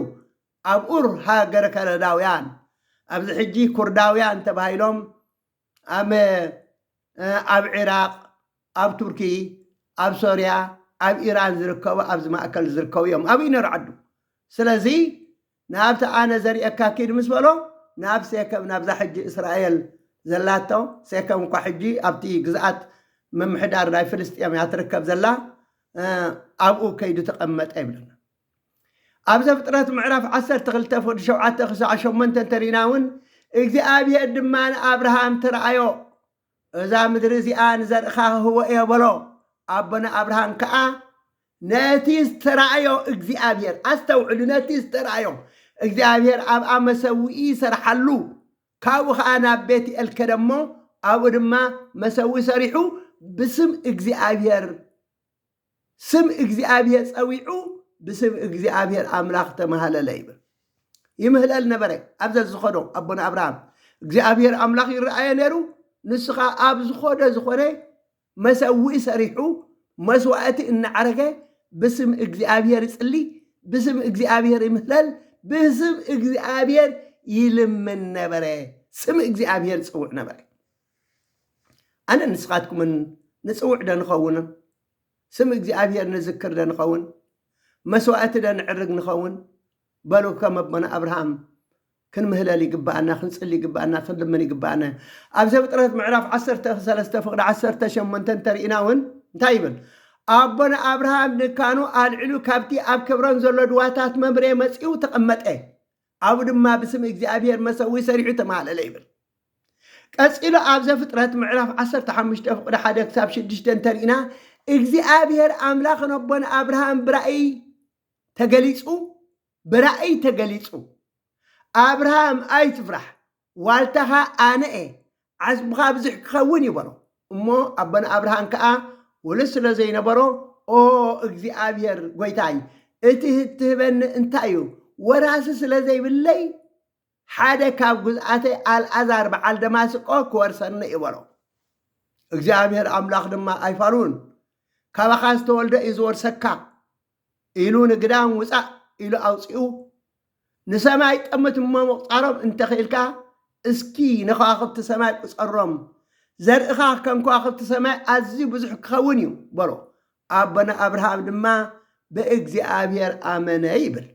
ኣብ ኡር ሃገረ ከለዳውያን፣ ኣብዚ ሕጂ ኩርዳውያን ተባሂሎም ኣመ ኣብ ዒራቕ፣ ኣብ ቱርኪ፣ ኣብ ሶርያ፣ ኣብ ኢራን ዝርከቡ ኣብዚ ማእከል ዝርከቡ እዮም ኣብይ ነርዓዱ ስለዚ ናብቲ ኣነ ዘርእየካ ኪድ ምስ በሎ ናብ ሴከም ናብዛ ሕጂ እስራኤል ዘላቶ ሴከም እኳ ሕጂ ኣብቲ ግዝኣት ምምሕዳር ናይ ፍልስጤም እያ ትርከብ ዘላ ኣብኡ ከይዱ ተቐመጠ ይብለና ኣብ ዘፍጥረት ምዕራፍ ዓሰርተ ክልተ ፍቕዲ ሸውዓተ ክሳዕ ሸሞንተ እንተሪእና እውን እግዚኣብሄር ድማ ንኣብርሃም ተረኣዮ እዛ ምድሪ እዚኣ ንዘርእኻ ክህቦ እዮ በሎ ኣቦና ኣብርሃም ከዓ ነቲ ዝተረኣዮ እግዚኣብሄር ኣስተውዕሉ ነቲ ዝተረኣዮ እግዚኣብሄር ኣብኣ መሰውኢ ይሰርሓሉ ካብኡ ከዓ ናብ ቤት ኤል ከደ እሞ ኣብኡ ድማ መሰዊ ሰሪሑ ብስም እግዚኣብሄር ስም እግዚኣብሔር ጸዊዑ ብስም እግዚኣብሔር ኣምላኽ ተማሃለለ ይብል ይምህለል ነበረ ኣብ ዘዝኸዶ ኣቦና ኣብርሃም እግዚኣብሔር ኣምላኽ ይረኣየ ነይሩ ንስኻ ኣብ ዝኾደ ዝኾነ መሰውኢ ሰሪሑ መስዋእቲ እናዓረገ ብስም እግዚኣብሔር ይጽሊ ብስም እግዚኣብሔር ይምህለል ብስም እግዚኣብሔር ይልምን ነበረ ስም እግዚኣብሔር ጽውዕ ነበረ ኣነን ንስኻትኩምን ንጽውዕ ዶ ንኸውን? ስም እግዚኣብሄር ንዝክር ዶ ንኸውን? መስዋእቲ ዶ ንዕርግ ንኸውን? በሉ ከም ኣቦና ኣብርሃም ክንምህለል ይግብኣና፣ ክንጽሊ ይግብኣና፣ ክንልምን ይግብኣና እዩ። ኣብ ዘፍጥረት ምዕራፍ ዓሰርተ ሰለስተ ፍቕዲ ዓሰርተ ሸሞንተ እንተርኢና እውን እንታይ ይብል? ኣቦና ኣብርሃም ድንካኑ ኣልዒሉ ካብቲ ኣብ ኬብሮን ዘሎ ድዋታት መምሬ መጺኡ ተቐመጠ። ኣብኡ ድማ ብስም እግዚኣብሄር መሰውኢ ሰሪሑ ተማህለለ ይብል። ቀጺሉ ኣብ ዘፍጥረት ምዕራፍ ዓሰርተ ሓሙሽተ ፍቕዲ ሓደ ክሳብ ሽዱሽተ እንተሪእና እግዚኣብሄር ኣምላኽ ነቦን ኣብርሃም ብራእይ ተገሊጹ ብራእይ ተገሊጹ ኣብርሃም ኣይትፍራሕ ዋልታኻ ኣነ እየ፣ ዓስብኻ ብዙሕ ኪኸውን እዩ በሎ። እሞ ኣቦና ኣብርሃን ከኣ ውሉድ ስለ ዘይነበሮ፣ ኦ እግዚኣብሄር ጐይታይ፣ እቲ እትህበኒ እንታይ እዩ? ወራሲ ስለ ዘይብለይ፣ ሓደ ካብ ግዙኣተይ ኣልኣዛር በዓል ደማስቆ ኪወርሰኒ እዩ በሎ። እግዚኣብሄር ኣምላኽ ድማ ኣይፋሉን፣ ካባኻ ዝተወልደ እዩ ዚወርሰካ ኢሉ ንግዳም ውጻእ ኢሉ ኣውጺኡ ንሰማይ ጠምት እሞ ምቝጻሮም እንተ ኽኢልካ፣ እስኪ ንኸዋኽብቲ ሰማይ ቍጸሮም፣ ዘርእኻ ከም ከዋኽብቲ ሰማይ ኣዝዩ ብዙሕ ኪኸውን እዩ በሎ። ኣቦና ኣብርሃም ድማ ብእግዚኣብሄር ኣመነ ይብል።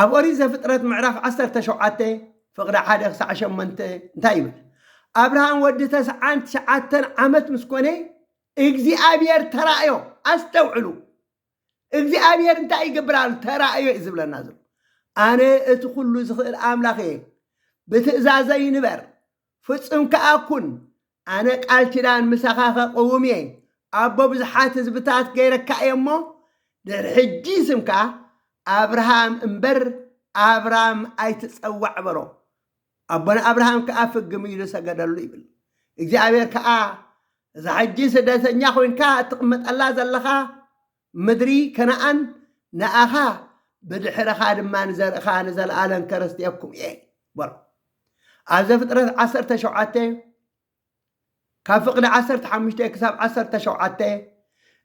ኣብ ኦሪት ዘፍጥረት ምዕራፍ ዓሰርተ ሸውዓተ ፍቕዲ ሓደ ክሳዕ ሸሞንተ እንታይ ይብል? ኣብርሃም ወዲ ተስዓን ትሽዓተን ዓመት ምስ ኮነ እግዚኣብሄር ተራእዮ። ኣስተውዕሉ፣ እግዚኣብሔር እንታይ ይገብር ኣሎ ተራእዮ እዩ ዝብለና ዘሎ ኣነ እቲ ኩሉ ዝኽእል ኣምላኽ እየ ብትእዛዘይ ንበር ፍጹም ከኣ ኩን ኣነ ቃል ኪዳን ምሳኻ ከቕውም እየ ኣቦ ብዙሓት ህዝብታት ገይረካ እየ እሞ ድሕሪ ሕጂ ስምካ ኣብርሃም እምበር ኣብራም ኣይትጸዋዕ በሎ ኣቦና ኣብርሃም ከኣ ፍግም ኢሉ ሰገደሉ ይብል። እግዚኣብሔር ከኣ እዛ ሕጂ ስደተኛ ኮይንካ እትቕመጠላ ዘለኻ ምድሪ ከነኣን ንኣኻ ብድሕረኻ ድማ ንዘርእኻ ንዘለኣለም ከረስትየኩም እየ በሎ። ኣብ ዘፍጥረት ዓሰርተ ሸውዓተ ካብ ፍቕዲ ዓሰርተ ሓሙሽተ ክሳብ ዓሰርተ ሸውዓተ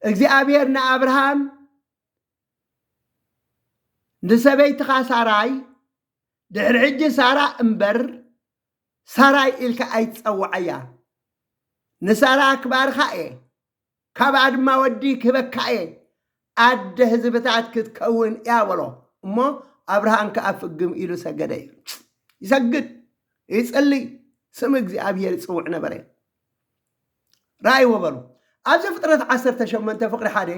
እግዚኣብሔር ንኣብርሃም ንሰበይትኻ ሳራይ ድሕሪ ሕጂ ሳራ እምበር ሳራይ ኢልካ ኣይትጸውዓያ ንሳራ ክባርኻ እየ ካብኣ ድማ ወዲ ክህበካ እየ ኣደ ህዝብታት ክትከውን እያ በሎ እሞ ኣብርሃም ከዓ ፍግም ኢሉ ሰገደ እዩ ይሰግድ ይጽልይ ስም እግዚኣብሔር ይጽውዕ ነበረ ረኣይዎ በሉ። ኣብ ዘፍጥረት ዓሰርተ ሸሞንተ ፍቕሪ ሓደ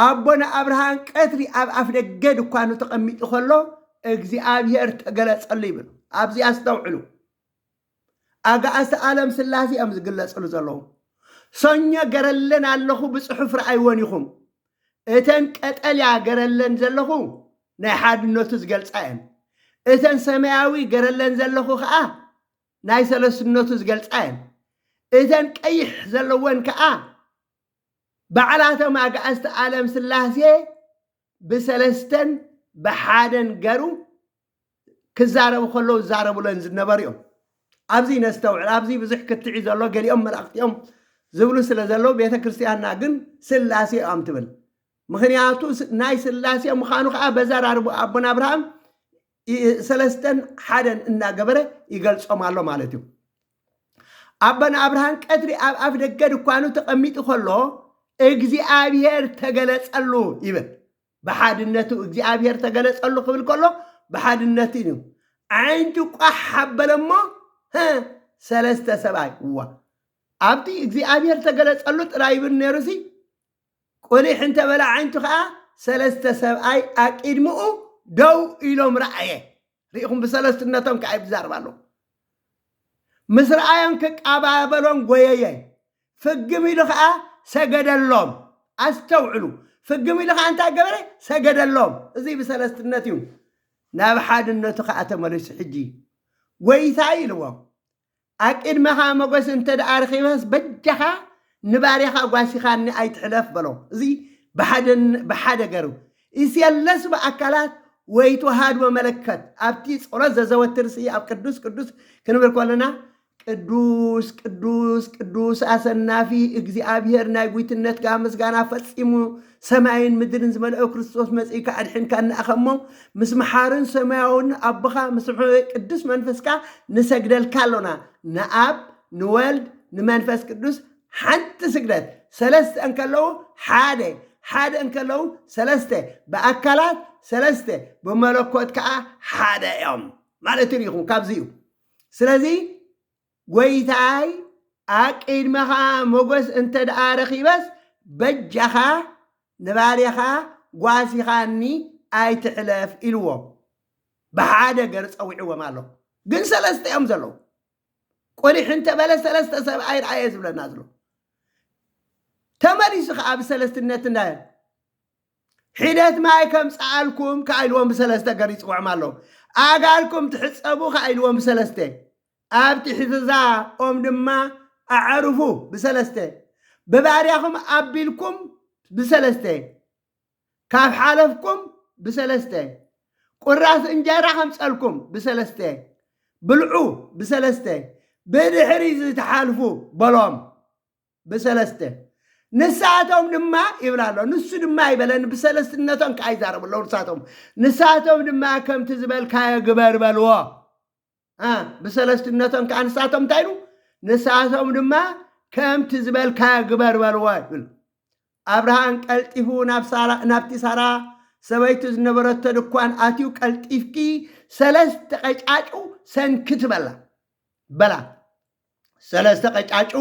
ኣቦ ንኣብርሃም ቀትሪ ኣብ ኣፍደገ ድኳኑ ተቐሚጡ ከሎ እግዚኣብሄር ተገለጸሉ ይብል። ኣብዚ ኣስተውዕሉ። ኣጋእዝቲ ዓለም ስላሴ እዮም ዝግለጽሉ ዘለዉ። ሰኞ ገረለን ኣለኹ ብጽሑፍ ረኣይወን ኢኹም። እተን ቀጠልያ ገረለን ዘለኹ ናይ ሓድነቱ ዝገልጻ እየን። እተን ሰማያዊ ገረለን ዘለኹ ከኣ ናይ ሰለስትነቱ ዝገልጻ እየን። እተን ቀይሕ ዘለወን ከኣ ባዕላቶም ኣግኣዝቲ ኣለም ስላሴ ብሰለስተን ብሓደን ገሩ ክዛረቡ ከለዉ ዝዛረቡለን ዝነበሩ እዮም። ኣብዚ ነስተውዕል ኣብዚ ብዙሕ ክትዒ ዘሎ ገሊኦም መላእኽቲ እዮም ዝብሉ ስለ ዘለዉ ቤተ ክርስቲያንና ግን ስላሴ እዮም ትብል ምክንያቱ ናይ ስላሴ ምዃኑ ከዓ በዘራርቡ ኣቦና ኣብርሃም ሰለስተን ሓደን እናገበረ ይገልጾም ኣሎ ማለት እዩ። ኣቦናብርሃን ቀትሪ ኣብ ኣፍ ደገ ድኳኑ ተቐሚጡ ከሎ እግዚኣብሔር ተገለጸሉ ይብል። ብሓድነቱ እግዚኣብሔር ተገለጸሉ ክብል ከሎ ብሓድነቱ እዩ። ዓይንቱ ቋሕ ሓበለ እሞ ሰለስተ ሰብኣይ እዋ ኣብቲ እግዚኣብሔር ተገለጸሉ ጥራይ ይብል ነይሩሲ ቁሊሕ እንተ በለ ኣዒንቱ ከኣ ሰለስተ ሰብኣይ ኣቂድምኡ ደው ኢሎም ረኣየ። ርኢኹም ብሰለስትነቶም ከኣ ይብዛርብ ኣሎ። ምስ ረኣዮም ክቃባበሎም ጎየየ። ፍግም ኢሉ ከኣ ሰገደሎም። ኣስተውዕሉ ፍግም ኢሉ ከኣ እንታይ ገበረ? ሰገደሎም። እዚ ብሰለስትነት እዩ። ናብ ሓድነቱ ከኣ ተመሊሱ ሕጂ ጎይታይ ኢልዎም። ኣብ ቅድመኻ መጎስ እንተ ደኣ ረኺበስ በጃኻ ንባርያኻ ጓሲኻኒ ኣይትሕለፍ በሎ። እዚ ብሓደ ገሩ ኢሰየለስ ብኣካላት ወይ ተዋሃድዎ መለከት ኣብቲ ጸሎት ዘዘወትር ሲ ኣብ ቅዱስ ቅዱስ ክንብል ኮለና ቅዱስ ቅዱስ ቅዱስ ኣሰናፊ እግዚኣብሔር ናይ ጉይትነትካ ምስጋና ፈጺሙ ሰማይን ምድርን ዝመልኦ ክርስቶስ መጺእካ ኣድሒንካና ኢኻ እሞ ምስ መሓርን ሰማያውን ኣቦኻ ምስ ሕበይ ቅዱስ መንፈስካ ንሰግደልካ ኣሎና ንኣብ ንወልድ ንመንፈስ ቅዱስ ሓንቲ ስግደት ሰለስተ እንከለዉ ሓደ ሓደ እንከለዉ ሰለስተ ብኣካላት ሰለስተ ብመለኮት ከዓ ሓደ እዮም ማለት ሪኹም ካብዚ እዩ ስለዚ ጎይታይ ኣብ ቂድመኻ ሞጎስ እንተ ደኣ ረኺበስ በጃኻ ንባርያኻ ጓሲኻኒ ኣይትሕለፍ ኢልዎ ብሓደ ገር ጸዊዕዎም ኣሎ ግን ሰለስተ እዮም ዘለዉ ቁሊሕ እንተ በለ ሰለስተ ሰብኣይ ርኣየ ዝብለና ዘሎ ተመሊሱ ከኣ ብሰለስትነት እንዳ ሒደት ማይ ከምጽኣልኩም ከኣ ኢልዎም ብሰለስተ ገር ይጽውዖም ኣሎ ኣጋልኩም ትሕጸቡ ከኣ ኢልዎም ብሰለስተ ኣብ ትሕቲ'ዛ ኦም ድማ ኣዕርፉ ብሰለስተ፣ ብባርያኹም ኣቢልኩም ብሰለስተ፣ ካብ ሓለፍኩም ብሰለስተ፣ ቍራስ እንጀራ ከምጸልኩም ብሰለስተ፣ ብልዑ ብሰለስተ፣ ብድሕሪ'ዚ ትሓልፉ በሎም ብሰለስተ። ንሳቶም ድማ ይብል ኣሎ ንሱ ድማ ኣይበለን ብሰለስትነቶም ከኣ ይዛረቡ ኣለዉ ንሳቶም ንሳቶም ድማ ከምቲ ዝበልካዮ ግበር በልዎ ብሰለስትነቶም ከዓ ንሳቶም እንታይ ኢሉ ንሳቶም ድማ ከምቲ ዝበልካዮ ግበር በልዎ ይብል ኣብርሃን ቀልጢፉ ናብቲ ሳራ ሰበይቱ ዝነበረቶ ድኳን ኣትዩ ቀልጢፍኪ ሰለስተ ቀጫጩ ሰንኪ ትበላ በላ ሰለስተ ቀጫጩ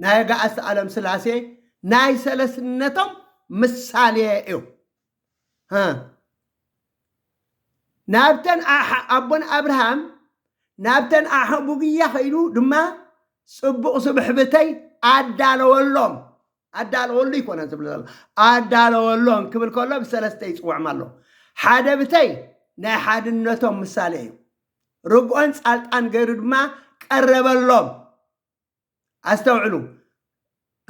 ናይ ኣጋእዝቲ ዓለም ስላሴ ናይ ሰለስነቶም ምሳሌ እዩ ናብተን ኣቦን ኣብርሃም ናብተን ኣሕቡግያ ከይዱ ድማ ፅቡቕ ስብሕብተይ ኣዳለወሎም ኣዳለወሉ ይኮነ ዝብል ዘሎ ኣዳለወሎም ክብል ከሎ ብሰለስተ ይፅውዕም ኣሎ ሓደ ብተይ ናይ ሓድነቶም ምሳሌ እዩ ርግኦን ፃልጣን ገይሩ ድማ ቀረበሎም ኣስተውዕሉ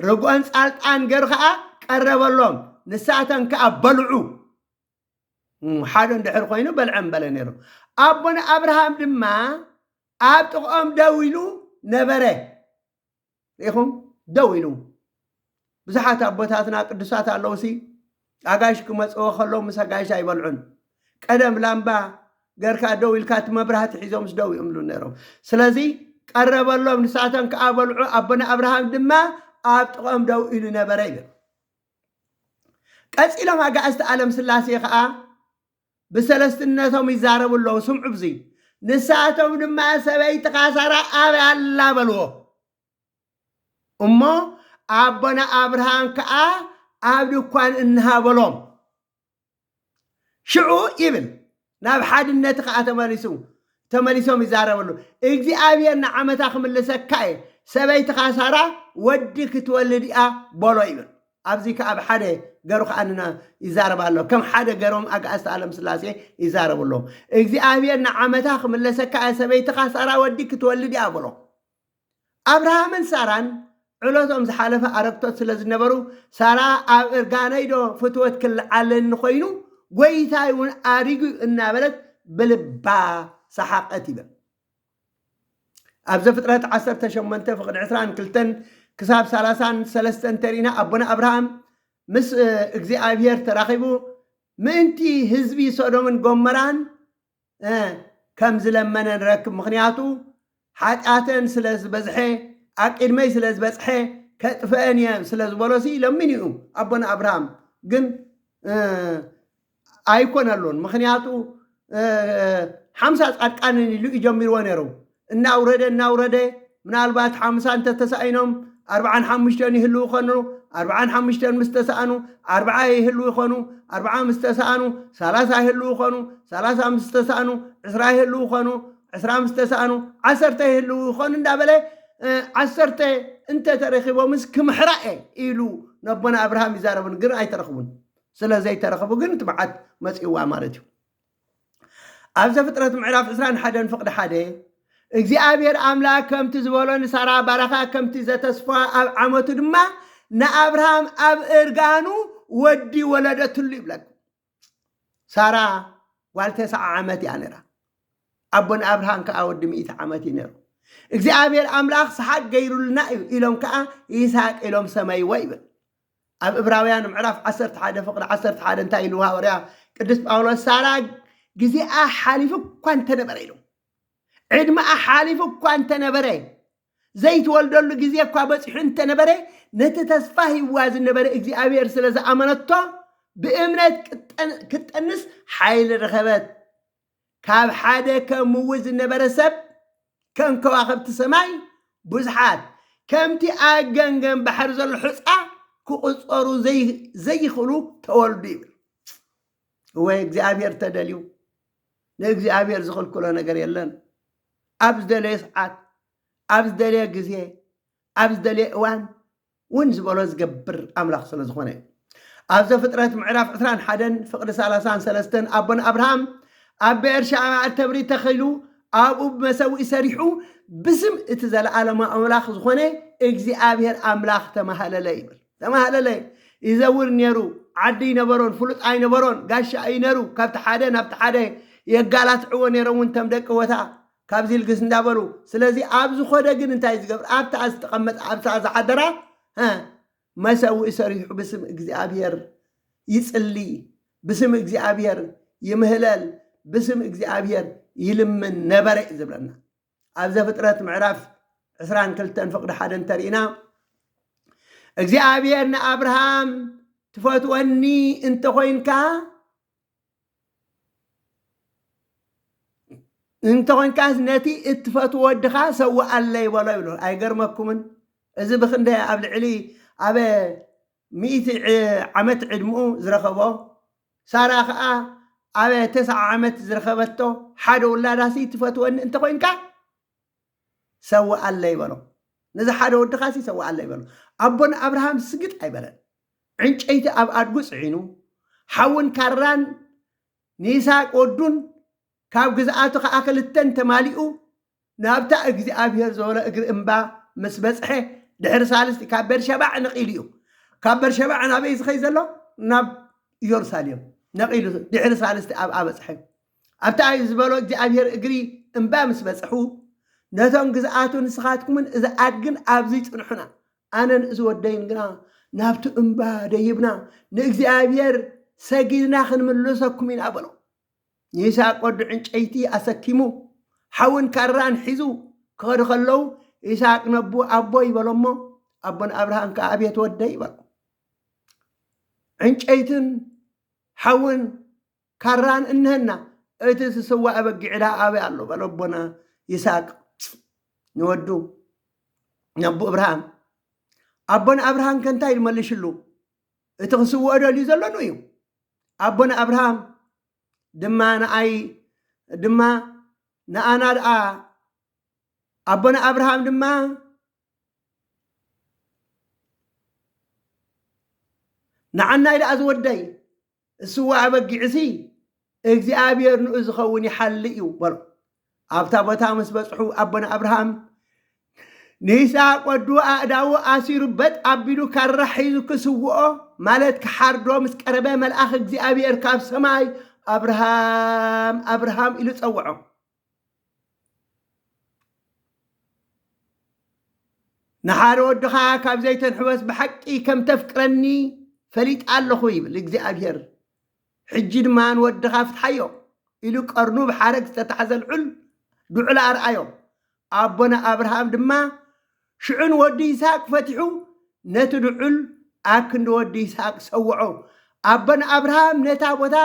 ርግኦን ጻልጣን ገሩ ከዓ ቀረበሎም ንሳተን ከዓ በልዑ ሓደ እንድሕር ኮይኑ በልዐ በለ ነይሩ ኣቦነ ኣብርሃም ድማ ኣብ ጥቕኦም ደው ኢሉ ነበረ ኢኹም ደው ኢሉ ብዙሓት ኣቦታትና ቅዱሳት ኣለውሲ ኣጋይሽ ክመጽዎ ከለው ምስ ኣጋይሽ ኣይበልዑን ቀደም ላምባ ገርካ ደው ኢልካ እቲ መብራህቲ ሒዞምስ ደው ይእምሉ ነይሮም ስለዚ ቀረበሎም ንሳቶም ከዓ በልዑ ኣቦና ኣብርሃም ድማ ኣብ ጥቕኦም ደው ኢሉ ነበረ ይብል ቀጺሎም ኣጋእዝቲ ኣለም ስላሴ ከዓ ብሰለስትነቶም ይዛረቡ ኣለዉ ስምዑ ብዙይ ንሳቶም ድማ ሰበይትኻ ሳራ ኣበይ ኣላ በልዎ እሞ ኣቦና ኣብርሃም ከኣ ኣብ ድኳን እንሃ በሎም። ሽዑ ይብል ናብ ሓድነት ከኣ ተመሊሱ ተመሊሶም ይዛረበሉ እግዚኣብሔር ንዓመታ ክምልሰካ እየ ሰበይትኻ ሳራ ወዲ ክትወልድ እያ በሎ ይብል ኣብዚ ከኣ ብ ሓደ ገሩ ከኣ ንና ይዛረብ ኣሎ ከም ሓደ ገሮም ኣጋእዝተ ኣለም ስላሴ ይዛረቡ ኣለዉ እግዚኣብሔር ንዓመታ ክምለሰካ እየ ሰበይትኻ ሳራ ወዲ ክትወልድ እያ በሎ ኣብርሃምን ሳራን ዕለቶም ዝሓለፈ ኣረግቶት ስለ ዝነበሩ ሳራ ኣብ እርጋነይዶ ፍትወት ክልዓለኒ ኮይኑ ጎይታይ እውን ኣሪጉ እናበለት ብልባ ሰሓቐት ይብል ኣብ ዘፍጥረት 18 ፍቕዲ 22 ክሳብ 33 እንተሪእና ኣቦና ኣብርሃም ምስ እግዚኣብሄር ተራኺቡ ምእንቲ ህዝቢ ሶዶምን ጎመራን ከም ዝለመነ ንረክብ ምኽንያቱ ሓጢኣተን ስለ ዝበዝሐ ኣብ ቅድመይ ስለ ዝበጽሐ ከጥፍአን እየ ስለ ዝበሎሲ ለሚኑ እዩ ኣቦና ኣብርሃም ግን ኣይኮነሉን ምኽንያቱ ሓምሳ ጻድቃንን ኢሉ እዩ ጀሚርዎ ነይሩ እናውረደ እናውረደ ምናልባት ሓምሳ እንተተሳኢኖም ኣርብዓን ሓሙሽተን ይህልዉ ከኑ ኣርብዓን ሓሙሽተን ምስ ተሰኣኑ ኣርብዓ ይህልዉ ይኾኑ ኣርብዓ ምስ ተሰኣኑ ሰላሳ ይህልዉ ይኾኑ ሰላሳ ምስ ተሰኣኑ ዕስራ ይህልዉ ይኾኑ ዕስራ ምስ ተሰኣኑ ዓሰርተ ይህልዉ ይኾኑ እንዳበለ እ፣ ዓሰርተ እንተተረኪቦምስ ክምሕራ እየ ኢሉ ነቦና ኣብርሃም ይዛረብን ግን ኣይተረኽቡን ስለ ዘይተረኽቡ ግን እቲ መዓት መፂእዋ ማለት እዩ ኣብ ዘፍጥረት ምዕራፍ ዕስራን ሓደን ፍቕዲ ሓደ እግዚኣብሔር ኣምላክ ከምቲ ዝበሎ ንሳራ ባራኻ ከምቲ ዘተስፋ ኣብ ዓመቱ ድማ ንኣብርሃም ኣብ እርጋኑ ወዲ ወለደትሉ ይብለኩም ሳራ ጓል ተስዓ ዓመት እያ ነራ ኣቦን ኣብርሃም ከዓ ወዲ ሚእቲ ዓመት እዩ ነሩ እግዚኣብሔር ኣምላኽ ሰሓቅ ገይሩልና እዩ ኢሎም ከዓ ይስሐቅ ኢሎም ሰመይዎ ይብል ኣብ እብራውያን ምዕራፍ ዓሰርተ ሓደ ፍቕዲ ዓሰርተ ሓደ እንታይ ኢሉ ሃወርያ ቅዱስ ጳውሎስ ሳራ ግዜኣ ሓሊፉ እኳ እንተነበረ ኢሉ ዕድመኣ ሓሊፉ እኳ እንተነበረ ዘይትወልደሉ ግዜ እኳ በፂሑ እንተነበረ ነቲ ተስፋ ሂዋ ዝነበረ እግዚኣብሔር ስለ ዝኣመነቶ ብእምነት ክትጠንስ ሓይሊ ረኸበት ካብ ሓደ ከሙዊ ዝነበረ ሰብ ከም ከዋኽብቲ ሰማይ ብዙሓት፣ ከምቲ ኣብ ገምገም ባሕሪ ዘሎ ሑጻ ክቑጸሩ ዘይኽእሉ ተወልዱ ይብል። እወ እግዚኣብሔር ተደልዩ ንእግዚኣብሔር ዝኽልክሎ ነገር የለን። ኣብ ዝደለየ ሰዓት፣ ኣብ ዝደለየ ግዜ፣ ኣብ ዝደለየ እዋን ውን ዝበሎ ዝገብር ኣምላኽ ስለ ዝኾነ እዩ። ኣብ ዘፍጥረት ምዕራፍ ዕስራን ሓደን ፍቕዲ ሰላሳን ሰለስተን ኣቦና ኣብርሃም ኣብ ብኤርሻዕባ እተብሪ ተኺሉ ኣብኡ ብመሰውኢ ሰሪሑ ብስም እቲ ዘለኣለማዊ ኣምላኽ ዝኾነ እግዚኣብሔር ኣምላኽ ተማሃለለ ይብል ተማሃለለ ይዘውር ነይሩ ዓዲ ይነበሮን ፍሉጥ ኣይነበሮን ጋሻ እዩ ነይሩ ካብቲ ሓደ ናብቲ ሓደ የጋላትዕዎ ነይሮም እውን ተም ደቂ ቦታ ካብዚ ልግስ እንዳበሉ ስለዚ ኣብ ዝኾደ ግን እንታይ ዝገብር ኣብታ ዝተቐመጠ ኣብታ ዝሓደራ ሀ መሰውኢ ሰሪሑ ብስም እግዚኣብሔር ይጽሊ ብስም እግዚኣብሔር ይምህለል ብስም እግዚኣብሔር ይልምን ነበረ እዩ ዝብለና ኣብ ዘፍጥረት ምዕራፍ 22 ፍቅዲ ሓደ እንተርኢና እግዚኣብሔር ንኣብርሃም ትፈትወኒ እንተኾይንካ እንተኾንካስ ነቲ እትፈትዎ ወድኻ ሰውኣለይ በሎ ይብሎ። ኣይገርመኩምን? እዚ ብክንደ ኣብ ልዕሊ ኣብ ሚእቲ ዓመት ዕድምኡ ዝረኸቦ ሳራ ከኣ ኣብ ተስዓ ዓመት ዝረኸበቶ ሓደ ውላዳሲ ትፈትወኒ እንተኾይንካ ሰውኣለይ በሎ። ነዚ ሓደ ወድኻሲ ሰውኣለይ በሎ። ኣቦና ኣብርሃም ስግጥ ኣይበለን። ዕንጨይቲ ኣብ ኣድጉ ጽዒኑ፣ ሓውን ካራን ንይስሃቅ ወዱን፣ ካብ ግዝኣቱ ኸኣ ኽልተን ተማሊኡ፣ ናብታ እግዚኣብሄር ዝበሎ እግሪ እምባ ምስ በጽሐ ድሕሪ ሳልስቲ ኻብ ቤርሸባዕ ነቒሉ እዩ። ካብ ቤርሸባዕ ናበይ እዩ ዝኸይድ ዘሎ? ናብ ኢየሩሳሌም ነቒሉ ድሕሪ ሳልስቲ ኣብኣ በጽሐ። ኣብታ ናይ ዝበሎ እግዚኣብሄር እግሪ እምባ ምስ በጽሑ፣ ነቶም ግዝኣቱ ንስኻትኩምን እዛ ኣድግን ኣብዚ ጽንሑና፣ ኣነን እዚ ወደይን ግና ናብቲ እምባ ደይብና ንእግዚኣብሄር ሰጊድና ኽንምልሰኩም ኢና በሎ። ይስሃቅ ወዱ ዕንጨይቲ ኣሰኪሙ ሓውን ካራን ሒዙ ኪኸዱ ኸለዉ፣ ይስሃቅ ነቡ ኣቦይ በሎ እሞ፣ ኣቦ ንኣብርሃም ከኣ ኣቤት ወደይ በሎ። ዕንጨይትን ሓውን ካራን እንሀና እቲ ዝስዋእ በጊዕ ድኣ ኣበይ ኣሎ በለ ኣቦና ይስሃቅ ንወዱ ነቦ እብርሃን ኣቦና ኣብርሃም ከ እንታይ ኢሉ መሊሽሉ እቲ ክስውኦ ደልዩ ዘሎ ን እዩ ኣቦና ኣብርሃም ድማ ንኣይ ድማ ንኣና ድኣ ኣቦና ኣብርሃም ድማ ንዓናይ ድኣ ዝወደይ ስዋ ኣበጊዕሲ እግዚኣብሔር ንኡ ዝኸውን ይሓሊ እዩ በሎ። ኣብታ ቦታ ምስ በጽሑ ኣቦና ኣብርሃም ንይስሐቅ ወዱ ኣእዳዉ ኣሲሩ በጥ ኣቢሉ ካራ ሒዙ ክስውኦ ማለት ክሓርዶ ምስ ቀረበ መልኣኽ እግዚኣብሔር ካብ ሰማይ ኣብርሃም ኣብርሃም ኢሉ ጸውዖ። ንሓደ ወድኻ ካብ ዘይተንሕወስ ብሓቂ ከም ተፍቅረኒ ፈሊጣ ኣለኹ ይብል እግዚኣብሔር ሕጂ ድማ ንወድኻ ፍትሓዮ ኢሉ ቀርኑ ብሓረግ ዝተታሕዘ ልዑል ድዑል ኣርኣዮ ኣቦና ኣብርሃም ድማ ሽዑ ንወዲ ይስሐቅ ፈቲሑ ነቲ ድዑል ኣብ ክንዲ ወዲ ይስሐቅ ሰውዖ ኣቦና ኣብርሃም ነታ ቦታ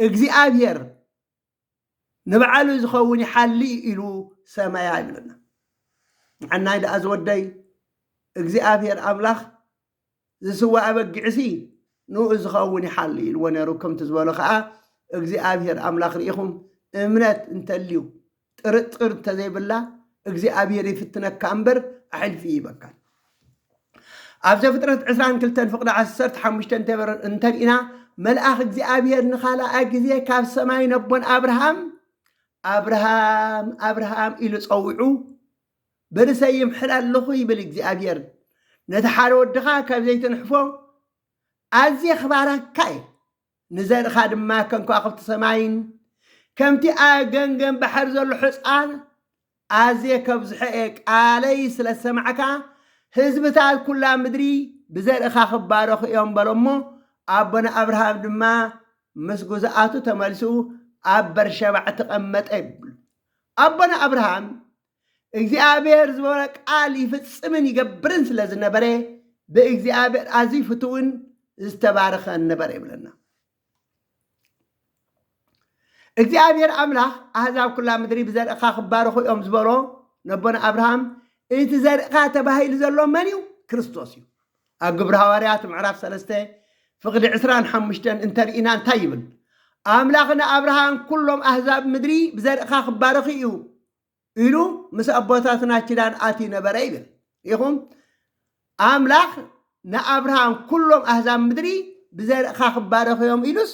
እግዚኣብሔር ንባዕሉ ዝኸውን ይሓሊ እዩ ኢሉ ሰመያ ይብለና። ንዓናይ ደኣ ዝወደይ እግዚኣብሔር ኣምላኽ ዝስዋእ ኣበጊዕሲ ንኡ ዝኸውን ይሓሊ ኢልዎ ነይሩ። ከምቲ ዝበሎ ከዓ እግዚኣብሔር ኣምላኽ ርኢኹም እምነት እንተልዩ ጥርጥር እንተዘይብላ እግዚኣብሔር ይፍትነካ እምበር ኣሕልፊ ይበካል። ኣብ ዘፍጥረት ዕስራን ክልተን ፍቕዲ ዓሰርተ ሓሙሽተ እንተበር- እንተሪእና መልኣኽ እግዚኣብሔር ንኻልኣይ ግዜ ካብ ሰማይ ነቦን ኣብርሃም ኣብርሃም ኣብርሃም ኢሉ ጸዊዑ በርሰይ ይምሕር ኣለኹ ይብል እግዚኣብሔር ነቲ ሓደ ወድኻ ካብ ዘይትንሕፎ ኣዝየ ክባረካ እየ ንዘርእኻ ድማ ከም ከዋኽብቲ ሰማይን ከምቲ ኣብ ገምገም ባሕሪ ዘሎ ሕፃን ኣዝየ ከብዝሖ እየ፣ ቃለይ ስለ ዝሰማዕካ ህዝብታት ኵላ ምድሪ ብዘርእኻ ክባረኹ እዮም በሎ እሞ፣ ኣቦና ኣብርሃም ድማ ምስ ግዙኣቱ ተመሊሱ ኣብ በርሸባዕ ተቐመጠ ይብሉ። ኣቦና ኣብርሃም እግዚኣብሔር ዝበሎ ቃል ይፍጽምን ይገብርን ስለ ዝነበረ ብእግዚኣብሔር ኣዝዩ ፍትውን ዝተባረኸን ነበረ ይብለና እግዚኣብሔር ኣምላኽ ኣህዛብ ኩላ ምድሪ ብዘርእኻ ክባረኹ እዮም ዝበሎ ነቦና ኣብርሃም እቲ ዘርእኻ ተባሂሉ ዘሎ መን እዩ ክርስቶስ እዩ ኣብ ግብሪ ሃዋርያት ምዕራፍ ሰለስተ ፍቕዲ ዕስራን ሓሙሽተን እንተርኢና እንታይ ይብል ኣምላኽ ንኣብርሃም ኩሎም ኣህዛብ ምድሪ ብዘርእኻ ክባረኹ እዩ ኢሉ ምስ ኣቦታትና ኪዳን ኣትዩ ነበረ ይብል። ኢኹም ኣምላኽ ንኣብርሃም ኩሎም ኣህዛብ ምድሪ ብዘርእኻ ክባረኹ እዮም ኢሉስ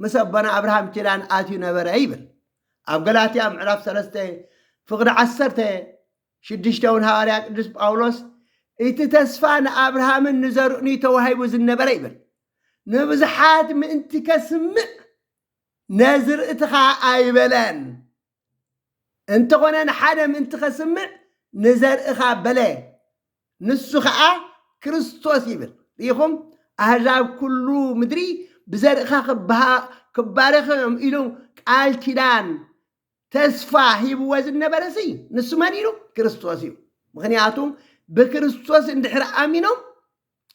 ምስ ኣቦና ኣብርሃም ኪዳን ኣትዩ ነበረ ይብል። ኣብ ገላትያ ምዕራፍ ሰለስተ ፍቕዲ ዓሰርተ ሽዱሽተ እውን ሃዋርያ ቅዱስ ጳውሎስ እቲ ተስፋ ንኣብርሃምን ንዘርእን እዩ ተዋሂቡ ዝነበረ ይብል። ንብዙሓት ምእንቲ ከስምዕ ነዝርእትኻ ኣይበለን። እንተኾነ ንሓደ ምእንቲ ከስምዕ ንዘርእኻ በለ፣ ንሱ ኸኣ ክርስቶስ ይብል። ርኢኹም፣ ኣህዛብ ኩሉ ምድሪ ብዘርእኻ ክባረኹ እዮም ኢሉ ቃል ኪዳን ተስፋ ሂብዎ ዝነበረሲ ንሱ መን ኢሉ? ክርስቶስ እዩ። ምክንያቱ ብክርስቶስ እንድሕር ኣሚኖም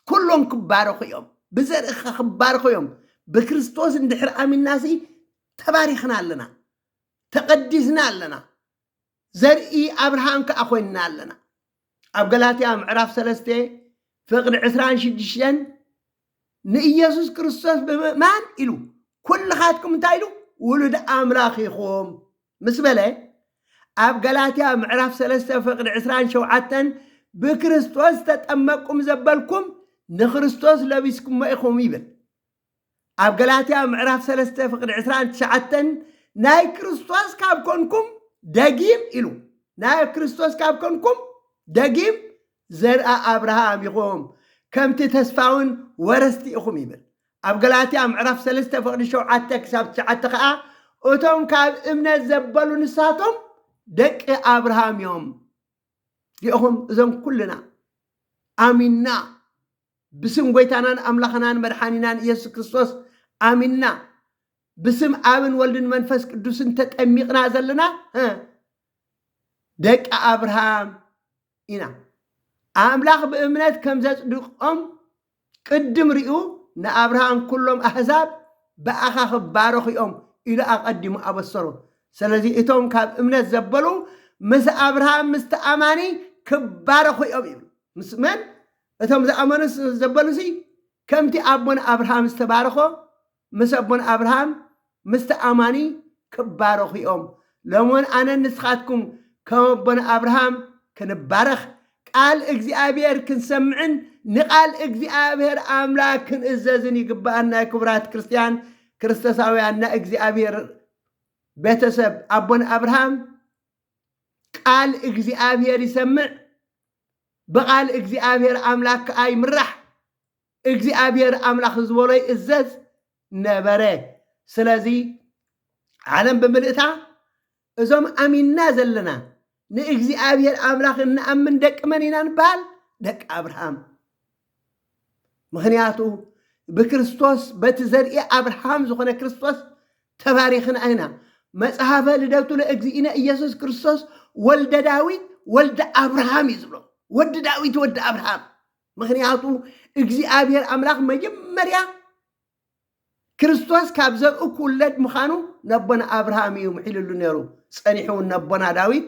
ኩሎም ክባረኹ እዮም፣ ብዘርእኻ ክባረኹ እዮም። ብክርስቶስ እንድሕር ኣሚንናሲ ተባሪኽና ኣለና። ተቐዲስና ኣለና፣ ዘርኢ ኣብርሃም ከኣ ኮይንና ኣለና። ኣብ ገላትያ ምዕራፍ ሰለስተ ፍቕዲ ዕስራን ሽዱሽተን ንኢየሱስ ክርስቶስ ብምእማን ኢሉ ኩልኻትኩም እንታይ ኢሉ ውሉድ ኣምላኽ ኢኹም ምስ በለ ኣብ ገላትያ ምዕራፍ ሰለስተ ፍቕዲ ዕስራን ሸውዓተን ብክርስቶስ ተጠመቅኩም ዘበልኩም ንክርስቶስ ለቢስኩሞ ኢኹም ይብል። ኣብ ገላትያ ምዕራፍ ሰለስተ ፍቕዲ ዕስራን ትሽዓተን ናይ ክርስቶስ ካብ ኮንኩም ደጊም ኢሉ ናይ ክርስቶስ ካብ ኮንኩም ደጊም ዘርኣ ኣብርሃም ኢኹም ከምቲ ተስፋውን ወረስቲ ኢኹም ይብል ኣብ ገላትያ ምዕራፍ ሰለስተ ፍቕዲ ሸውዓተ ክሳብ ትሽዓተ ከዓ እቶም ካብ እምነት ዘበሉ ንሳቶም ደቂ ኣብርሃም እዮም ዚኹም እዞም ኩልና ኣሚንና ብስም ጐይታናን ኣምላኽናን መድሓኒናን ኢየሱስ ክርስቶስ ኣሚንና ብስም ኣብን ወልድን መንፈስ ቅዱስን ተጠሚቕና ዘለና እ፣ ደቂ ኣብርሃም ኢና። ኣምላኽ ብእምነት ከም ዘጽድቆም ቅድም ርእዩ ንኣብርሃም ኵሎም ኣህዛብ ብኣኻ ክባረኹ እዮም ኢሉ ኣቐዲሙ ኣበሰሮ። ስለዚ እቶም ካብ እምነት ዘበሉ ምስ ኣብርሃም ምስቲ ኣማኒ ክባረኹ እዮም ይብል። ምስ መን? እቶም ዝኣመኑስ ዘበሉሲ ከምቲ ኣቦና ኣብርሃም ዝተባረኾ ምስ ኣቦና ኣብርሃም ምስቲ ኣማኒ ክባረኹ እዮም። ሎምውን ኣነን ንስኻትኩም ከም ኣቦና ኣብርሃም ክንባረኽ ቃል እግዚኣብሔር ክንሰምዕን ንቃል እግዚኣብሔር ኣምላክ ክንእዘዝን ይግባኣና ክቡራት ክርስትያን ክርስቶሳውያን ናይ እግዚኣብሔር ቤተሰብ ኣቦና ኣብርሃም ቃል እግዚኣብሔር ይሰምዕ ብቓል እግዚኣብሄር ኣምላክ ከኣ ይምራሕ፣ እግዚኣብሄር ኣምላክ ዝበሎ ይእዘዝ ነበረ። ስለዚ ዓለም ብምልእታ እዞም ኣሚንና ዘለና ንእግዚኣብሄር ኣምላክ እንኣምን ደቂ መን ኢና ንበሃል? ደቂ ኣብርሃም። ምክንያቱ ብክርስቶስ በቲ ዘርኢ ኣብርሃም ዝኾነ ክርስቶስ ተባሪኽና ኢና መጽሐፈ ልደቱ ለእግዚእነ ኢየሱስ ክርስቶስ ወልደ ዳዊት ወልደ ኣብርሃም እዩ ዝብሎ ወዲ ዳዊት ወዲ ኣብርሃም ምክንያቱ እግዚኣብሔር ኣምላኽ መጀመርያ ክርስቶስ ካብ ዘርኡ ክውለድ ምዃኑ ነቦና ኣብርሃም እዩ ምሒልሉ ነይሩ ጸኒሑ እውን ነቦና ዳዊት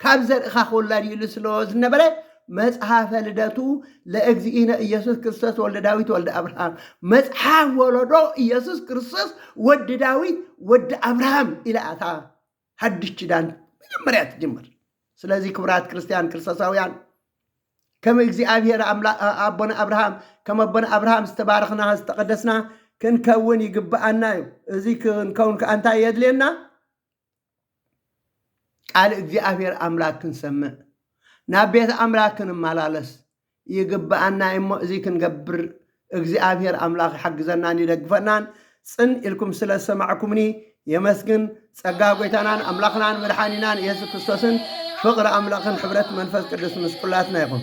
ካብ ዘርእኻ ክውለድ ኢሉ ስለ ዝነበረ መጽሐፈ ልደቱ ለእግዚእነ ኢየሱስ ክርስቶስ ወልደ ዳዊት ወልደ አብርሃም መጽሐፍ ወለዶ ኢየሱስ ክርስቶስ ወዲ ዳዊት ወዲ አብርሃም ኢላ እታ ሓድሽ ኪዳን መጀመርያ ትጅምር። ስለዚ ክቡራት ክርስቲያን ክርስቶሳውያን ከም እግዚኣብሔር ኣምላ- ኣ- ኣቦና ኣብርሃም ከም ኣቦና ኣብርሃም ዝተባረኽና ዝተቐደስና ክንከውን ይግብኣና እዩ። እዚ ክንከውን ከዓ እንታይ የድልየና? ቃል እግዚኣብሔር ኣምላክ ክንሰምዕ ናብ ቤት ኣምላክ ክንመላለስ ይግብኣና እዩ እሞ እዚ ክንገብር እግዚኣብሔር ኣምላክ ይሓግዘናን ይደግፈናን ጽን ኢልኩም ስለ ዝሰማዕኩምኒ የመስግን ጸጋ ጎይታናን ኣምላክናን መድሓኒናን ኢየሱስ ክርስቶስን ፍቅሪ ኣምላክን ሕብረት መንፈስ ቅዱስ ምስ ኩላትና ይኹን